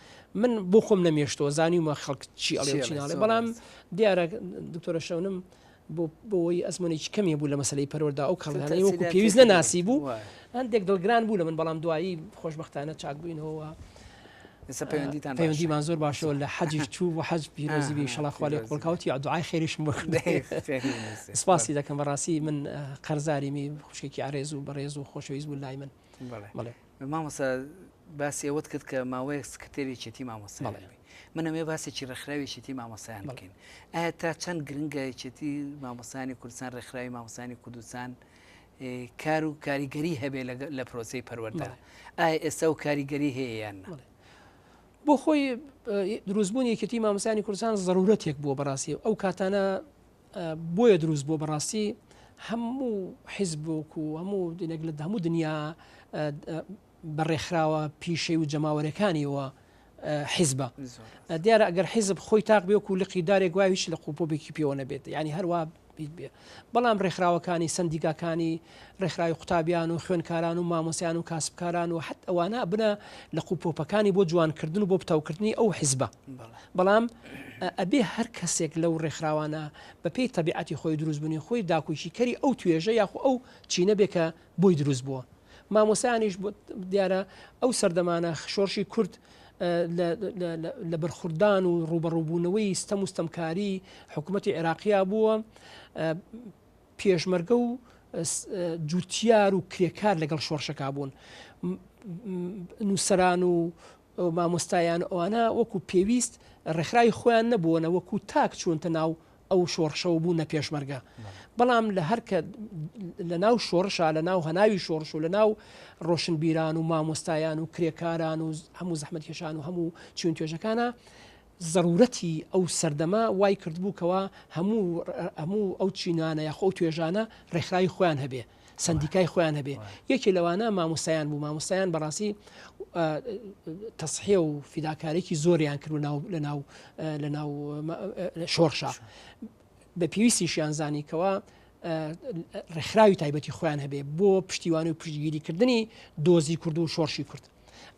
من بۆ خۆم نەمێشتەوە زانیومە خەڵک چی ئەڵێ چی ناڵێ بەڵام دیارە دکتۆرە شەونم بۆەوەی ئەزمونێکی کەمی بوو لە مەسلەی پەرۆردا ئەو کەڵیانەی وەکو پێویست نەناسی بوو هەندێک دڵگران بوو لە من بەڵام دوایی خۆشببختانە چاک بووینەوە. پەیوەندیتان پەیوەندیمان زۆر باشەوە لە حەجیش چوو و حەج پیرۆزی بی شڵاخوالی قۆڵکاوتی عدوعای خێریشم بخ سپاسی دەکەم بەڕاستی من قەرزاری می خوشکێکی ئارێز و بەڕێز و خۆشەویست بوو لای من. بەڵێ مامۆستا باسی ئەوەت کرد کە ماوەیەک سکرتێری چێتی مامۆستا من ئەمێ باسێکی ڕێکخراوی چێتی مامۆسایان بکەین ئایا تا چەند گرنگە چێتی مامۆسانی کوردستان ڕێکخراوی مامۆسانی کوردستان کار و کاریگەری هەبێ لە پرۆسی پەروەەردە ئایا ئێستا و کاریگەری هەیە یان بۆ خۆی دروستبوونی یەکێتی مامۆسانی کوردستان ضرورەتێک بووە بەڕاستی ئەو کاتانە بۆیە دروست بووە بەڕاستی هەموو حیزبک و هەموو دینێک لە هەموو دنیا بە ڕێکخراوە پیشەی و جەماوەرەکانیەوە حیزبە دیارە ئەگەر حیزب خۆی تاق بێک و لقی دارێک وایویش لە قوپۆبێکی پێوە نەبێت ینی هەروە بیت بێ بەڵام ڕێکخراوەکانی سندیکاکانی ڕێکخراوی قوتابیان و خوێنکاران و مامۆسیان و کاسبکاران و حت ئەوانە بنە لە قوپۆپەکانی بۆ جوانکردن و بۆ پتەوکردنی ئەو حیزبە بەڵام ئەبێ هەر کەسێک لەو ڕێکخراوانە بەپی تەبیعەتی خۆی دروستبوونی خۆی داکوکی کەری ئەو توێژە یاخۆ ئەو چینە بێ کە بۆی دروست بووە مامۆسایانیش دیارە ئەو سەردەمانە شۆرشی کورد لە بەرخوردان و ڕوبەڕووبوونەوەی ستەم و ستەمکاری حکوومەتتی عێراقییا بووە پێشمەرگە و جوتیار و کرێکار لەگەڵ شۆڕشەکە بوون نووسران و مامۆستایان ئەوانە وەکو پێویست ڕێکخراوی خۆیان نەبووەە وەکو تاک چوونتە ناو ئەو شۆڕشەوە بوو نە پێشمەرگە بەڵام لە هەرکە لە ناو شۆڕشە لە ناو هەناوی شۆڕش و لە ناو ڕۆشنبیران و مامۆستایان و کرێکاران و هەموو زەحمەتکێشان و هەموو چون توێژەکانە زەروورەتی ئەو سەردەمە وای کردبوو کەوا هەموو هەموو ئەو چینانە یاخۆ ئەو توێژانە ڕێکخراوی خۆیان هەبێ، سەندیکای خۆیان هەبێ. یەکێ لەوانە مامۆستایان بوو، مامۆستایان بەڕاستی تەسحێ و فیداکاریی زۆریان کرد و ناو لە ناو لە ناو شۆڕشە. بە پێویستیشیان زانی کەوا ڕێکخراوی تایبەتی خۆیان هەبێ بۆ پشتیوانی و پشتگیریکردنی دۆزی کورد و شۆڕشی کورد.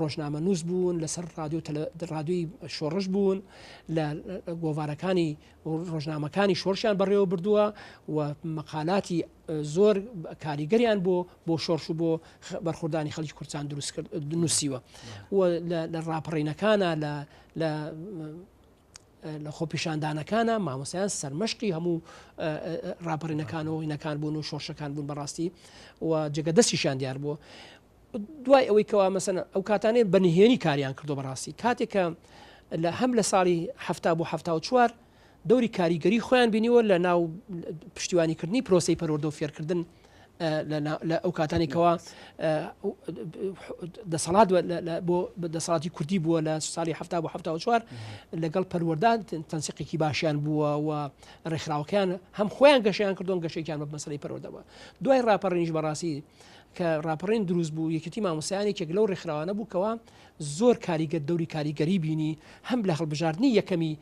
ڕۆژنامەنووس بوون لەسەر ڕادیۆی شۆڕش بوون لە گۆڤارەکانی ڕۆژنامەکانی شۆرشیان بەڕێوە بردووە و مەقالاتی زۆر کاریگەریان بۆ بۆ شۆرش و بۆ بەرخوردانی خەڵکی کورسان دروست کرد نووسیوە و لە ڕاپەڕینەکانە لە لە لە خۆپیشاندانەکانە مامۆسیان سەرمەشقی هەموو ڕاپەڕینەکان و هینەکان بوون و شۆشەکان بوون بەڕاستی و جگە دەستیشان دیار بووە دوای ئەوەی کەوا مەسەن ئەو کاتانێ بە نهێنی کاریان کردو بەڕاستی کاتێک کە لە هەم لە ساڵی هەفتا بۆ هەفتا و چوار دەوری کاریگەری خۆیان بینیوە لە ناو پشتیوانیکردنی پرۆسی پەروەردە و فێرکردن لە ئەو کاتانێکەوە دەسەڵات بۆ دەسەڵاتی کوردی بووە لە ساڵی ه بۆ ه چوار لەگەڵ پەروەدان تەنسیقێکی باشیان بووە و ڕێکخراوەکەیان هەم خۆیان گەشیان کردوون گەشێکیان بە مەسلی پەرۆدەوە دوای ڕاپەڕینیش بەڕاستی کە ڕاپەڕین دروست بوو یەکێتی مامۆسیان یەکێک لەو ڕێکخراوانە بوو کەەوە زۆر کاریگە دەوری کاریگەری بینی هەم لە هەڵبژاردننی یەکەمی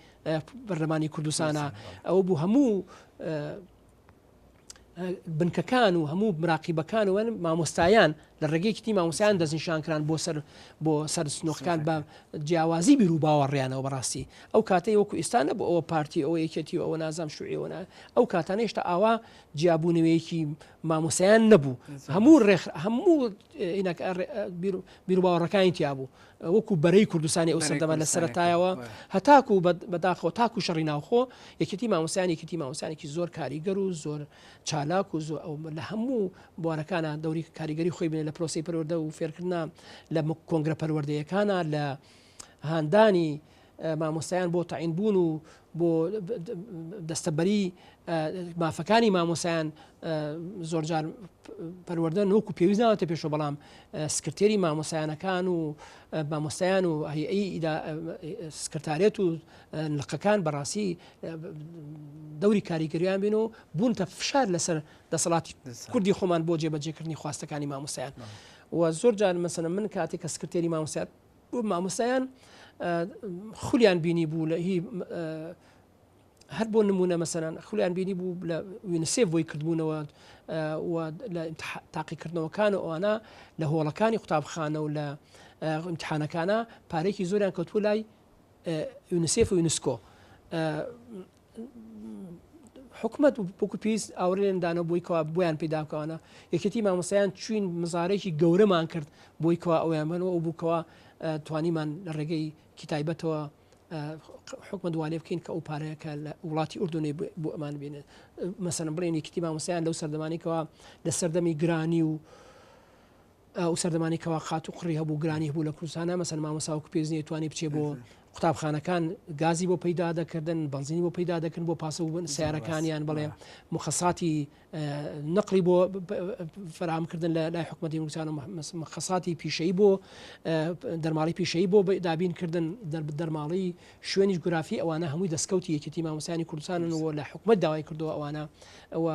بەرلەمانی کوردستانە ئەو بوو هەموو بنکەکان و هەموو مراقیبەکان وەن مامۆستایان لە ڕێگەیەکیتی مامۆسایان دەستنیشانکران بۆ سەر بۆ سەر سنۆخەکان بە جیاوازی بیر و باوەڕیانەوە بەڕاستی ئەو کاتەی وەکو ئستانە بۆ ئەوە پارتی ئەوە یەکێتی و ئەوە نازام شوعیەوەە ئەو کاتانە هێشتا ئاوا جیابوونەوەیەکی مامۆستایان نەبوو هەموو ڕێخ هەموو بیرروباوەڕەکانی تیابوو وەکو بەرەی کوردستانی ئەو سەردەمان لە سەرتایەوە هەتاکو بەداخەوە تاکو شەڕی ناوخۆ یەکێتی مامۆسیان یەکێتی مامۆسیانێکی زۆر کاریگەر و زۆر چالاک و زۆر ئەو لە هەموو بوارەکانە دەوری کاریگەری خۆی بێ لە پرۆسی پەروەدە و فێرکردنا لە کۆنگرە پەروەردەیەکانە لە هاندانی مامۆستایان بۆ تەعین بوون و بۆ دەستەبەری مافەکانی مامۆسایان زۆرجار پەروەەردە نۆک و پێویست ناوەتە پێشۆ بەڵام سکرتێری مامۆسایانەکان و مامۆستایان و هەیئەی سکرتارێت و لقەکان بەڕاستی دەوری کاریگەریان بین و بوونتە فشار لەسەر دەسەڵاتی کوردی خۆمان بۆ جێبەجێکردنی خواستەکانی مامۆسایان و زۆر جار مەسەنە من کاتێک کە سکرتێری مامۆسیات بۆ مامۆستایان خولیان بینی بوو لە هی هەر بۆ نمونە مەسەران خولیان بینی بوو لە وینسێ بۆی کردبوونەوە لە تاقیکردنەوەکان و ئەوانە لە هۆڵەکانی قوتابخانە و لە امتحانەکانە پارێکی زۆریان کەوتبوو لای یونسێف و یونسکۆ حکومەت وەکو پێویست ئاورێن دانەوە بۆی کەوا بۆیان پیداکەوانە یەکێتی مامۆسایان چوین مزارێکی گەورەمان کرد بۆی کەوا ئەویان بنەوە ئەو بووکەوە توانیمان لە ڕێگەی کتایبەتەوە حکومە دوالێ بکەین کە ئەو پارەیەکە لە وڵاتی ئوردنەی بۆ ئەمان بێنێت مەسەن بڵێن یەکتی مامۆسیان لەو سەردەمانێکەوە لە سەردەمی گرانی و ئەو سەردەمانی کەوا قات و قڕی هەبوو گرانی هەبوو لە کوردستان نامەسەن مامۆسا وەکو پێویست نیە توانی بچێ بۆ قوتابخانەکان گازی بۆ پەیدا دەکردن بەنزینی بۆ پەیدا دەکردن بۆ پاسە بوون سیارەکانیان بڵێ مخەساتی نقلی بۆ فراهمکردن لە لای حکومەتی کوردستان و مخەساتی پیشەی بۆ دەرماڵی پیشەی بۆ دابین کردن دەرماڵی شوێنی گرافی ئەوانە هەمووی دەستکەوتی یەکێتی مامۆسانی کوردستانن و لە حکومت داوای کردو ئەوانە ئەوە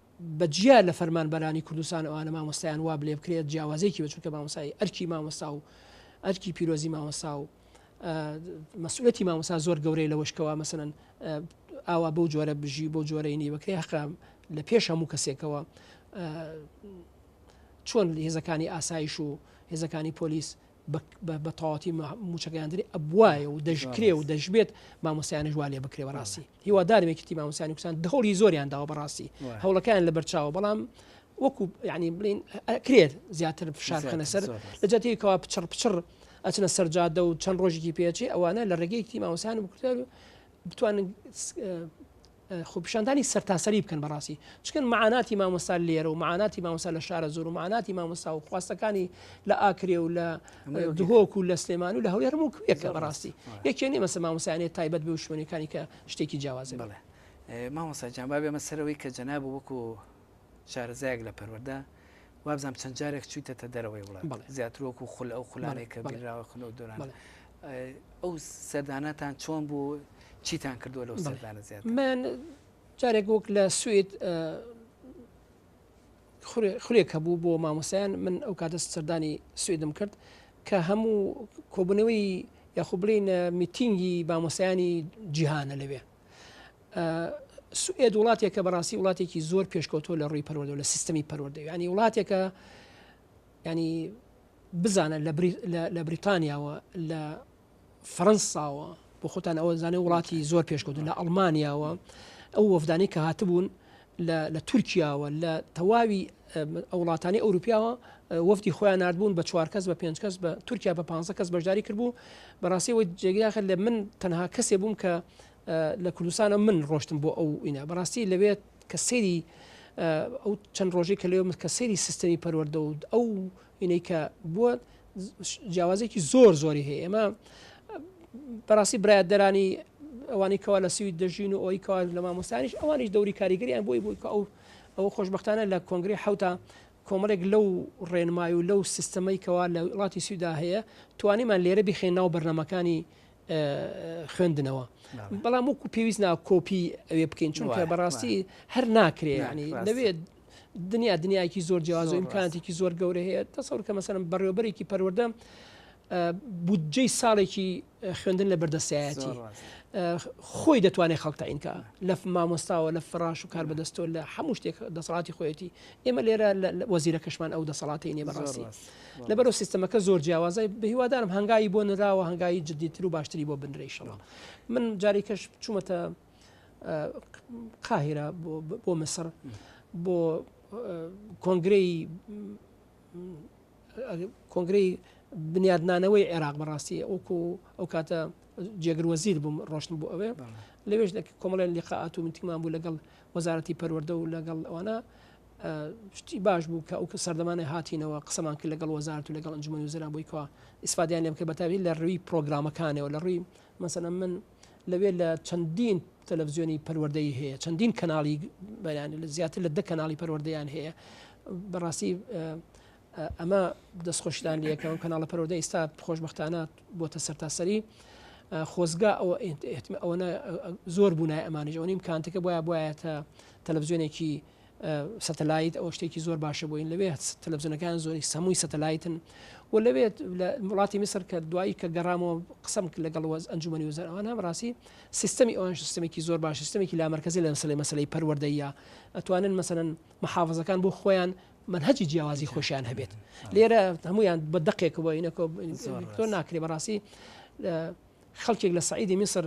بە جیا لە فەرمانبەرانی کوردستان ئەوانە مامۆستایان وا بلێ بکرێت جیاوازێکی بە چونکە مامۆسای ئەرکی مامۆستا و ئەرکی پیرۆزی مامۆسا و مەسئولەتی مامۆسا زۆر گەورەی لە وشکەوە مەسەن ئاوا بەو جۆرە بژی بۆ جۆرەی نی بەکرێ حقا لە پێش هەموو کەسێکەوە چۆن هێزەکانی ئاسایش و هێزەکانی پۆلیس بە تەواتی موچەگەیاندنی ئەبواە و دەشکرێ و دەشبێت مامۆسیانش وا لێ بکرێ بەڕاستی هیوادارم یەکتی مامۆسیانی کوسان دهوڵی زۆریان داوە بەڕاستی هەوڵەکان لە بەرچاوە بەڵام وەکو ینی بڵین کرێت زیاتر فشار خەنە سەر لە جاتێکەوە پچڕ پچڕ ئەچنە سەرجادە و چەند ڕۆژێکی پێچێ ئەوانە لە ڕێگەیەکی مامۆسیان بکردار و بتوانن خۆپیشاندانی سەرتاسەری بکەن بەڕاستی چکن معاناتی مامۆستا لێرە و معاناتی مامۆستا لە شارە زۆر و معاناتی مامۆستا و خواستەکانی لە ئاکرێ و لە دهۆک و لە سلێمان و لە هەولێر هەموو کوێکە بەڕاستی یەکێ نیە مەسە مامۆسایانێت تایبەت بێ و شوێنەکانی کە شتێکی جیاوازە بڵێ مامۆسا جامبا بێمە سەرەوەی کە جەناب وەکو شارەزایەک لە پەروەردە، وابزانم چەند جارێک چوویتەتە دەرەوەی وڵات، زیاتر وەکو خول ئەو خولانەی کە بینراوە خول ئەو دۆرانە. ئەو سەردانەتان چۆن بوو؟ چیتان کردووە لەو سەردانە زیاتر؟ من جارێک وەک لە سوید خولێک هەبوو بۆ مامۆستایان من ئەو کاتە سەردانی سویدم کرد کە هەموو کۆبوونەوەی یاخۆ بڵێن میتینگی مامۆستایانی جیهانە لەوێ. سوئێد وڵاتێکە بەڕاستی وڵاتێکی زۆر پێشکەوتۆ لە ڕووی پەروەدە لە سیستمی پەروەدە ینی وڵاتێکە ینی بزانە لە بریتانیاوە لە فەرەنساوە بۆ خۆتان ئەوە زانێ وڵاتی زۆر پێشکەوتن لە ئەڵمانیاوە ئەو وەفدانی کە هاتبوون لە تورکیاوە لە تەواوی ئەوڵاتانی ئەوروپیاوە وەفدی خۆیان نردبوون بە چوار کەس بە پێنج کەس بە تورکیا بە پ کەس بەشداری کردبوو بەڕاستیەوە جێگیاخر لە من تەنها کەسێ بووم کە لە کوردستانە من ڕۆشتم بۆ ئەو ئینا بەڕاستی لەوێت کە سری ئەو چەند ڕۆژی کە لێ من کە سری سیستەمی پەروەەردە و ئەو ئینەی کە بووە جیاوازێکی زۆر زۆری هەیە ئێمە بەڕاستی برایەتدەرانی ئەوانی کەوا لە سوید دەژین و ئەوی کەوا لە مامۆستانیش ئەوانیش دەوری کاریگەریان بۆی بوو کە ئەو ئەو خۆشببختانە لە کۆنگری حوتا کۆمەڵێک لەو ڕێنمای و لەو سیستەمەی کەوا لە وڵاتی سویدا هەیە توانیمان لێرە بخێن ناو بەرنمەکانی خوێندنەوە بەڵام وەکو پێویست نا کۆپی ئەوێ بکەین چونکە بەڕاستی هەر ناکرێ ینی لەوێ دنیا دنیایەکی زۆر جیاوازە و ئیمکاناتێکی زۆر گەورەی هەیە تەسەور کە مەسەرم بەڕێوبەرێکی پەروەردە بودجەی ساڵێکی خوێندن لە بەردەسایەتی خۆی دەتوانێت خەڵک تاینکە لە مامۆستاوە لە فراش و کار بەدەستۆ لە هەموو شتێک دەسەڵاتی خۆیەتی ئێمە لێرە وەزیرە کەشمان ئەو دەسەڵاتی نیە بەڕاستی لەبەرو سیستەمەکە زۆر جیاوازای بە هیوادارم هەنگایی بۆ نراوە هەنگایی جدیتر و باشتری بۆ بنرێشەوە من جاری کەش چوومەتە قاهیرە بۆ مسڕ بۆ کۆنگرەی کۆنگرەی بنیادنانەوەی عێراق بەڕاستی ئەوکو ئەو کاتە جێگر وەزیر بووم ڕۆشتن بۆ ئەوێ لەوێش کۆمەڵێن لقاعات و منتیمان بوو لەگەڵ وەزارەتی پەروەەردە و لەگەڵ ئەوانە شتی باش بوو کە ئەو کە سەردەمانە هاتینەوە قسەمان کرد لەگەڵ وەزارت و لەگەڵ ئەنجومی وزرا بوویکەوە ئیسفادیان لێم کرد بەتاوی لە ڕووی پرۆگرامەکانەوە لە ڕووی مەسەلەن من لەوێ لە چەندین تەلەڤزیۆنی پەروەردەیی هەیە چەندین کەناڵی بەیانی لە زیاتر لە دە کەناڵی پەروەردەیان هەیە بەڕاستی ئەمە دەستخۆشدان لەکەم کەناڵە پەرۆدە ئیستا خۆشببختانە بۆتە سەرتاسەری خۆزگا ئەوە ئەوەنە زۆر بوونای ئەمانیش ئەوەنیم کانتەکە بۆە بایەتە تەلەڤزیۆنێکی سەتەلایت ئەوە شتێکی زۆر باشە بۆین لەوێ تەلەڤزیۆنەکان زۆری سەمووی سەتەلایتن و لەوێت لە وڵاتی میسر کە دوایی کە گەڕامەوە قسم لەگەڵ وەز ئەنجومی وزەر ئەوان هەم ڕاستی سیستمی ئەوان سیستمێکی زۆر باش سیستمێکی لامەرکزی لە مەسلەی مەسلەی پەروەردەیە ئەتوانن مەسەن محافظەکان بۆ خۆیان منهجی جیاوازی خۆشیان هەبێت لێرە هەمویان بە دقێکەوە ئینەکۆ ناکرێ بەڕاستی خەڵکێک لە سعیدی میسر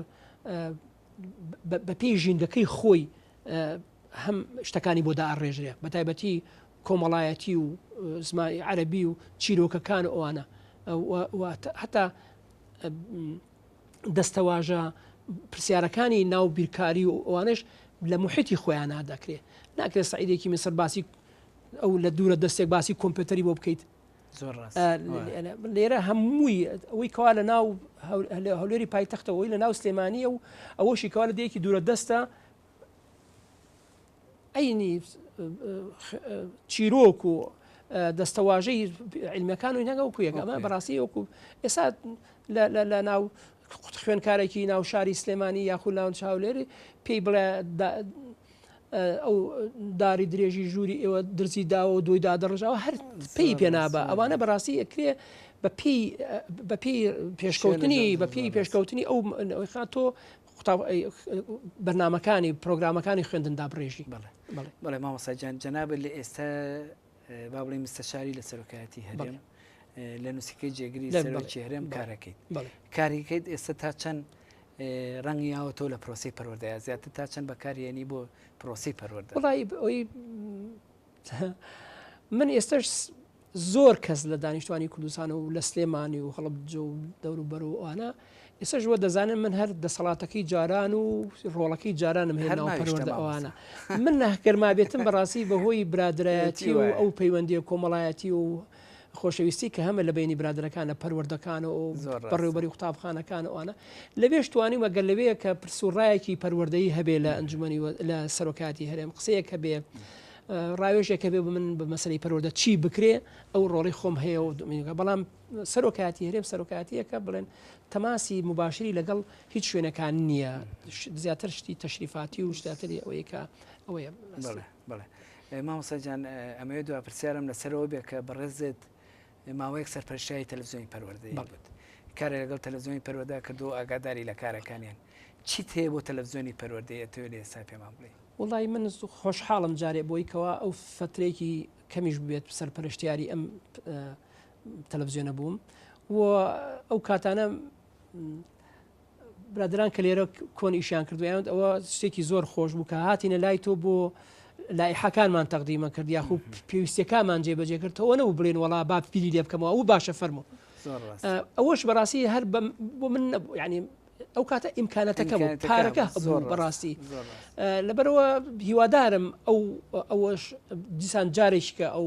بەپێی ژینگەکەی خۆی هەم شتەکانی بۆ داڕێژرێ بە تایبەتی کۆمەڵایەتی و زمانی عەربی و چیرۆکەکان ئەوانە هەتا دەستەواژە پرسیارەکانی ناو بیرکاری و ئەوانش لە محیتی خۆیان نادەکرێت ناکرێت سعیدێکی میسەر باسی ئەو لە دوورە دەستێک باسی کۆمپیوتەری بۆ بکەیت لێرە هەمووی ئەوەی کەوا لە ناو هەولێری پایتەختەوەی لە ناو سلێمانیە و ئەوەشی کەوا لە دەیەکی دوورە دەستە ئەینی چیرۆک و دەستەواژەی علمەکان و نەگە و کوێگەمە بەڕاستی وەکو ئێستا لە ناو خوێنکارێکی ناو شاری سلێمانی یاخود ناون چاولێری پێی بڵێ ئەو داری درێژی ژووری ئێوە درزی داوە و دوی دادەڕژاوە هەر پێی پێنابە ئەوانە بەڕاستی ئەکرێ بە پێی پێشکەوتنی بە پێی پێشکەوتنی ئەو خات تۆ بەرنمەکانی پرۆگرامەکانی خوێندندا بڕێژی بڵێ بڵێ مامەساجان جەنابەت لە ئێستا با بڵێ مستەشاری لە سەرۆکایەتی هەرێم لە نووسکەی جێگری سەرۆکی هەرێم کارەکەیت کاریکەیت ئێستا تا چەند ڕەنگیاوە تۆ لە پرۆسەی پەروەردەیا زیاتر تا چەند بەکاری یەنی بۆ پرۆسی پەروەردە وڵی ئەوی من ئێستش زۆر کەس لە دانیشتوانی کوردستان و لە سلێمانی و هەڵب جۆ و دەوروبەر و ئەوانە ئێسش وە دەزانن من هەر دەسەڵاتەکەی جاران و ڕۆڵەکەی جارانم هێنا پەروەردە ئەوانە من ناهکەرما بێتم بەڕاستی بەهۆی برادایەتی و ئەو پەیوەندی کۆمەڵایەتی و خۆشەویستی کە هەمە لە بینی برادەکانە پەروەردەکان و بەڕێوبەری قوتابخانەکان و ئەە لەوێش توانیمە گەل لەوەیە کە پرسوڕایەکی پەروەردەی هەبێ لە ئەنجومی لە سەرۆکاتی هەرێم قسەیە کە بێ ڕاوێژێکە بێ من بە مەسلی پەروەدە چی بکرێ ئەو ڕۆڵی خۆم هەیە و دومینگە بەڵام سەرۆکاتی هەرێم سەرۆکاتیەکە بڵێن تەماسی مباشری لەگەڵ هیچ شوێنەکان نییە زیاتر شتی تەشریفاتی و شتاتری ئەوەیەکە ئەوەیە. بەڵێ مامۆستا گیان ئەمەوێت دوا پرسیارم لەسەرەوە بێ کە بەڕێزت ماوەیەک سەرپەرشتیاری تەلەڤزیۆنی پەروەردەی بوت کارێک لەگەڵ تەلەڤزیۆنی پەروەردە کردو ئاگاداری لە کارەکانیان چیت هەیە بۆ تەلەڤزیۆنی پەروەردەی ئەتەوێ لە ئێستا پێمان بڵێی؟ وەڵڵایی من خۆشحاڵم جارێ بۆی کەوا ئەو فەترەیەکی کەمیش بێت سەرپەرشتیاری ئەم تەلەڤزیۆنە بووم و ئەو کاتانە برادران کە لێرە کۆن ئیشیان کردویانت ئەوە شتێکی زۆر خۆش بوو کە هاتینە لای تۆ بۆ لایحەکانمان تەقدیمە کرد یاخو پێویستەکانمان جێبەجێ کرد تەوە نەبوو بڵێن وڵا با پیری لێ بکەمەوە ئەو باشە فەرمو ئەوەش بەڕاستی هەر بۆ من ینی ئەو کاتە ئیمکانەتەکە بوو پارەکە زۆر بەڕاستی لەبەرەوە هیوادارم ئەو ئەوەش دیسان جارێککە ئەو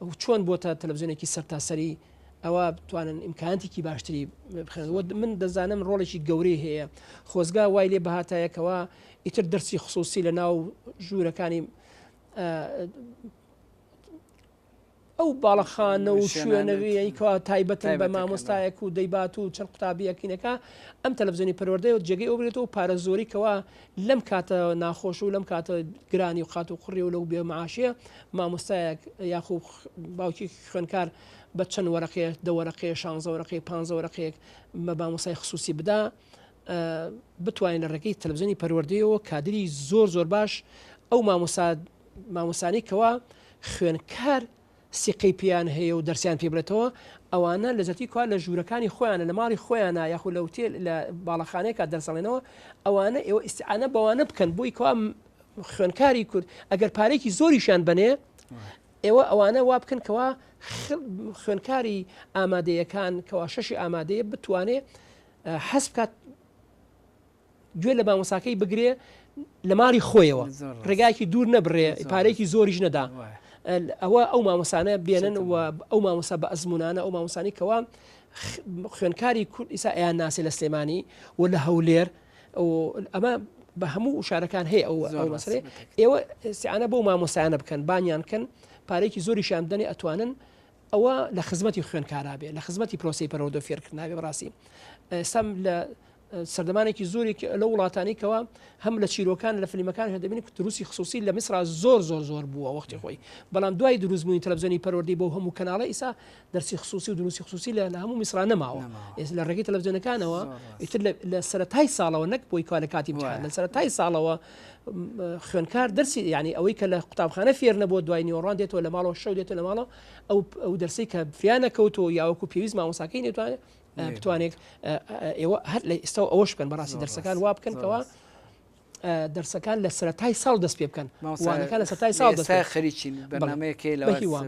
و چۆن بۆتە تەلەفزیۆنێکی سەرتاسەری ئەوا بتوانن ئیمکاناتێکی باشتری بخێن وە من دەزانم ڕۆڵێکی گەورەی هەیە خۆزگا وای لێ بەهاتایەکەوە ئیتر دەرسی خصوصی لە ناو ژوورەکانی ئەو باڵەخانە و شوێنەوەیکەوە تایبەتن بە مامۆستایەک و دەیبات و چەند قوتابیەکینەکە ئەم تەلەڤزیۆنی پەروەردەی و جێگەی ئەوبرێتەوە پارە زۆریکەوە لەم کاتە ناخۆش و لەم کاتە گرانی و قات و قڕی و لەو بێ معاشیە مامۆستایەک یاخو باوکی خوێنکار بە چەند وەرەقەیە دە وەرەقەیە شانزە وەرەقەی پانزە وەرەقەیەک بە مامۆستای خصوصی بدا بتوانین لە ڕێگەی تەلەڤزیۆنی پەروەردەیەوە کادری زۆر زۆر باش ئەو مامۆسا مامۆسانی کەوا خوێنکار سیقەی پێیان هەیە و دەرسیان پێ بێتەوە، ئەوانە لە جەرتی کوا لە ژوورەکانی خۆیانە، لە ماڵی خۆیانە یاخود لە ئوتێل لە باڵەخانەیەکا دەرس ئەڵێنەوە، ئەوانە ئێوە ئیستعانە بەوانە بکەن بۆی کوا خوێنکاری کورد ئەگەر پارێکی زۆریشیان بنێ ئێوە ئەوانە وا بکەن کەوا خوێنکاری ئامادەیەکان کەوا شەشی ئامادەیە بتوانێ حەز بکات گوێ لە مامۆساکەی بگرێ لە ماڵی خۆیەوە ڕێگایکی دوور نەبرێ پارێکی زۆریش نەدا ئەوە ئەو مامۆسانە بێنن و ئەو مامۆسا بە ئەزمونانە ئەو مامۆسانی کەوا خوێنکاری کورد ئیسا ئەیان ناسێ لە سلێمانی و لە هەولێر ئەمە بە هەموو شارەکان هەیە ئەو مەسرێ ئێوە سیانە بۆ مامۆسایانە بکەن بانیان کەن پارێکی زۆریشیان دەنێ ئەتوانن ئەوە لە خزمەتی خوێنکارا بێ لە خزمەتی پرۆسی پەرۆدۆ فێرکردناێ بڕاستی ئێستا لە سەردەمانێکی زۆری لە وڵاتانی کەەوە هەم لە چیرۆکان لە فلیمەکان هەدەبین کە دروستی خصوصی لە میسرا زۆر زۆر زۆر بووە وەختی خۆی بەڵام دوای دروستبوونی تەلەبزیۆنی پەروەردی بۆ هەموو کەناڵە ئیسا دەرسی خصوصی و دروستی خصوصی لە لە هەموو میسرا نەماوە ئێس لە ڕێگەی تەلەبزیۆنەکانەوە ئیتر لە سەرای ساڵەوە نەک بۆی کوا لە کاتی لە سەرای ساڵەوە خوێنکار دەرسی ینی ئەوەی کە لە قوتابخانە فێر نەبووە دوای نیۆڕان دێتەوە لە ماڵەوە شەو دێتە لە ماڵەوە ئەو دەرسی کە فیانە کەوتەوە یاوەکو پێویست مامۆساکەی نێتوانێت بتوانێت ئێوە هەر لە ئێستا ئەوەش بکەن بەڕاستی دەرسەکان وا بکەنەوە دەرسەکان لە سەتای ساڵ دەست پێ بکەن وانەکە لە سەتای ساڵ دەست خەریکین بەنامەیەکەی لە هیوام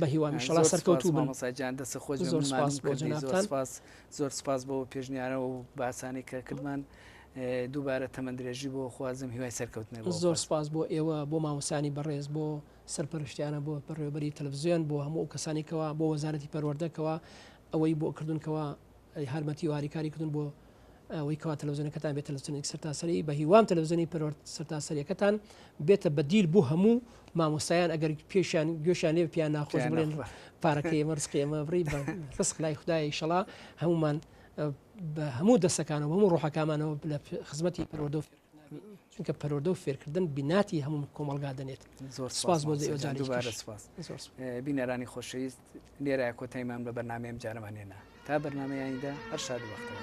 بە هیوام شڵا سەرکەوتو بەسەجان دەست خۆش زۆر سپاس بۆ جنابتان زۆر سپاس بۆ پێشنیارەوە و باسانی کە کردمان دووبارە تەمەن درێژی بۆ خوازم هیوای سەرکەوتنە بۆ. زۆر سپاس بۆ ئێوە بۆ مامۆستانی بەڕێز بۆ سەرپەرشتیانە بۆ بەڕێوەبەری تەلەفزیۆن بۆ هەموو ئەو کەسانی کەوا بۆ وەزارەتی پەروەردە کەوا ئەوەی بۆ کردون کەوا هارمەتی واری کاری کردون بۆ ئەوەی کەوا تەلەفزیۆنەکەتان بێت تەلەفزیۆنێک سەرتاسەری بە هیوام تەلەفزیۆنی پەروەرد سەرتاسەریەکەتان بێتە بەدیل بۆ هەموو مامۆستایان ئەگەر پێشیان گوێشیان لێ پیان ناخۆش بڵێن پارەکەی ئێمە ڕسقی ئەمە بڕی بە ڕسق لای خدای شەڵا هەمومان بە هەموو دەسەکانەوە هەموو ڕۆحەکامانەوە لە خزمەتی پەروەدە و فێر چونکە پەرۆدە و فێرکردن بیناتی هەموو کۆمەلگا دەنێت زۆر سپاس بۆ دوبارە سپاس بینەرانی خۆشەویست لێرە کۆتایمان بە بەرنمەیەم جارەمان هێنا تا بەرنمەیاندا هەر شاد وەختەوە.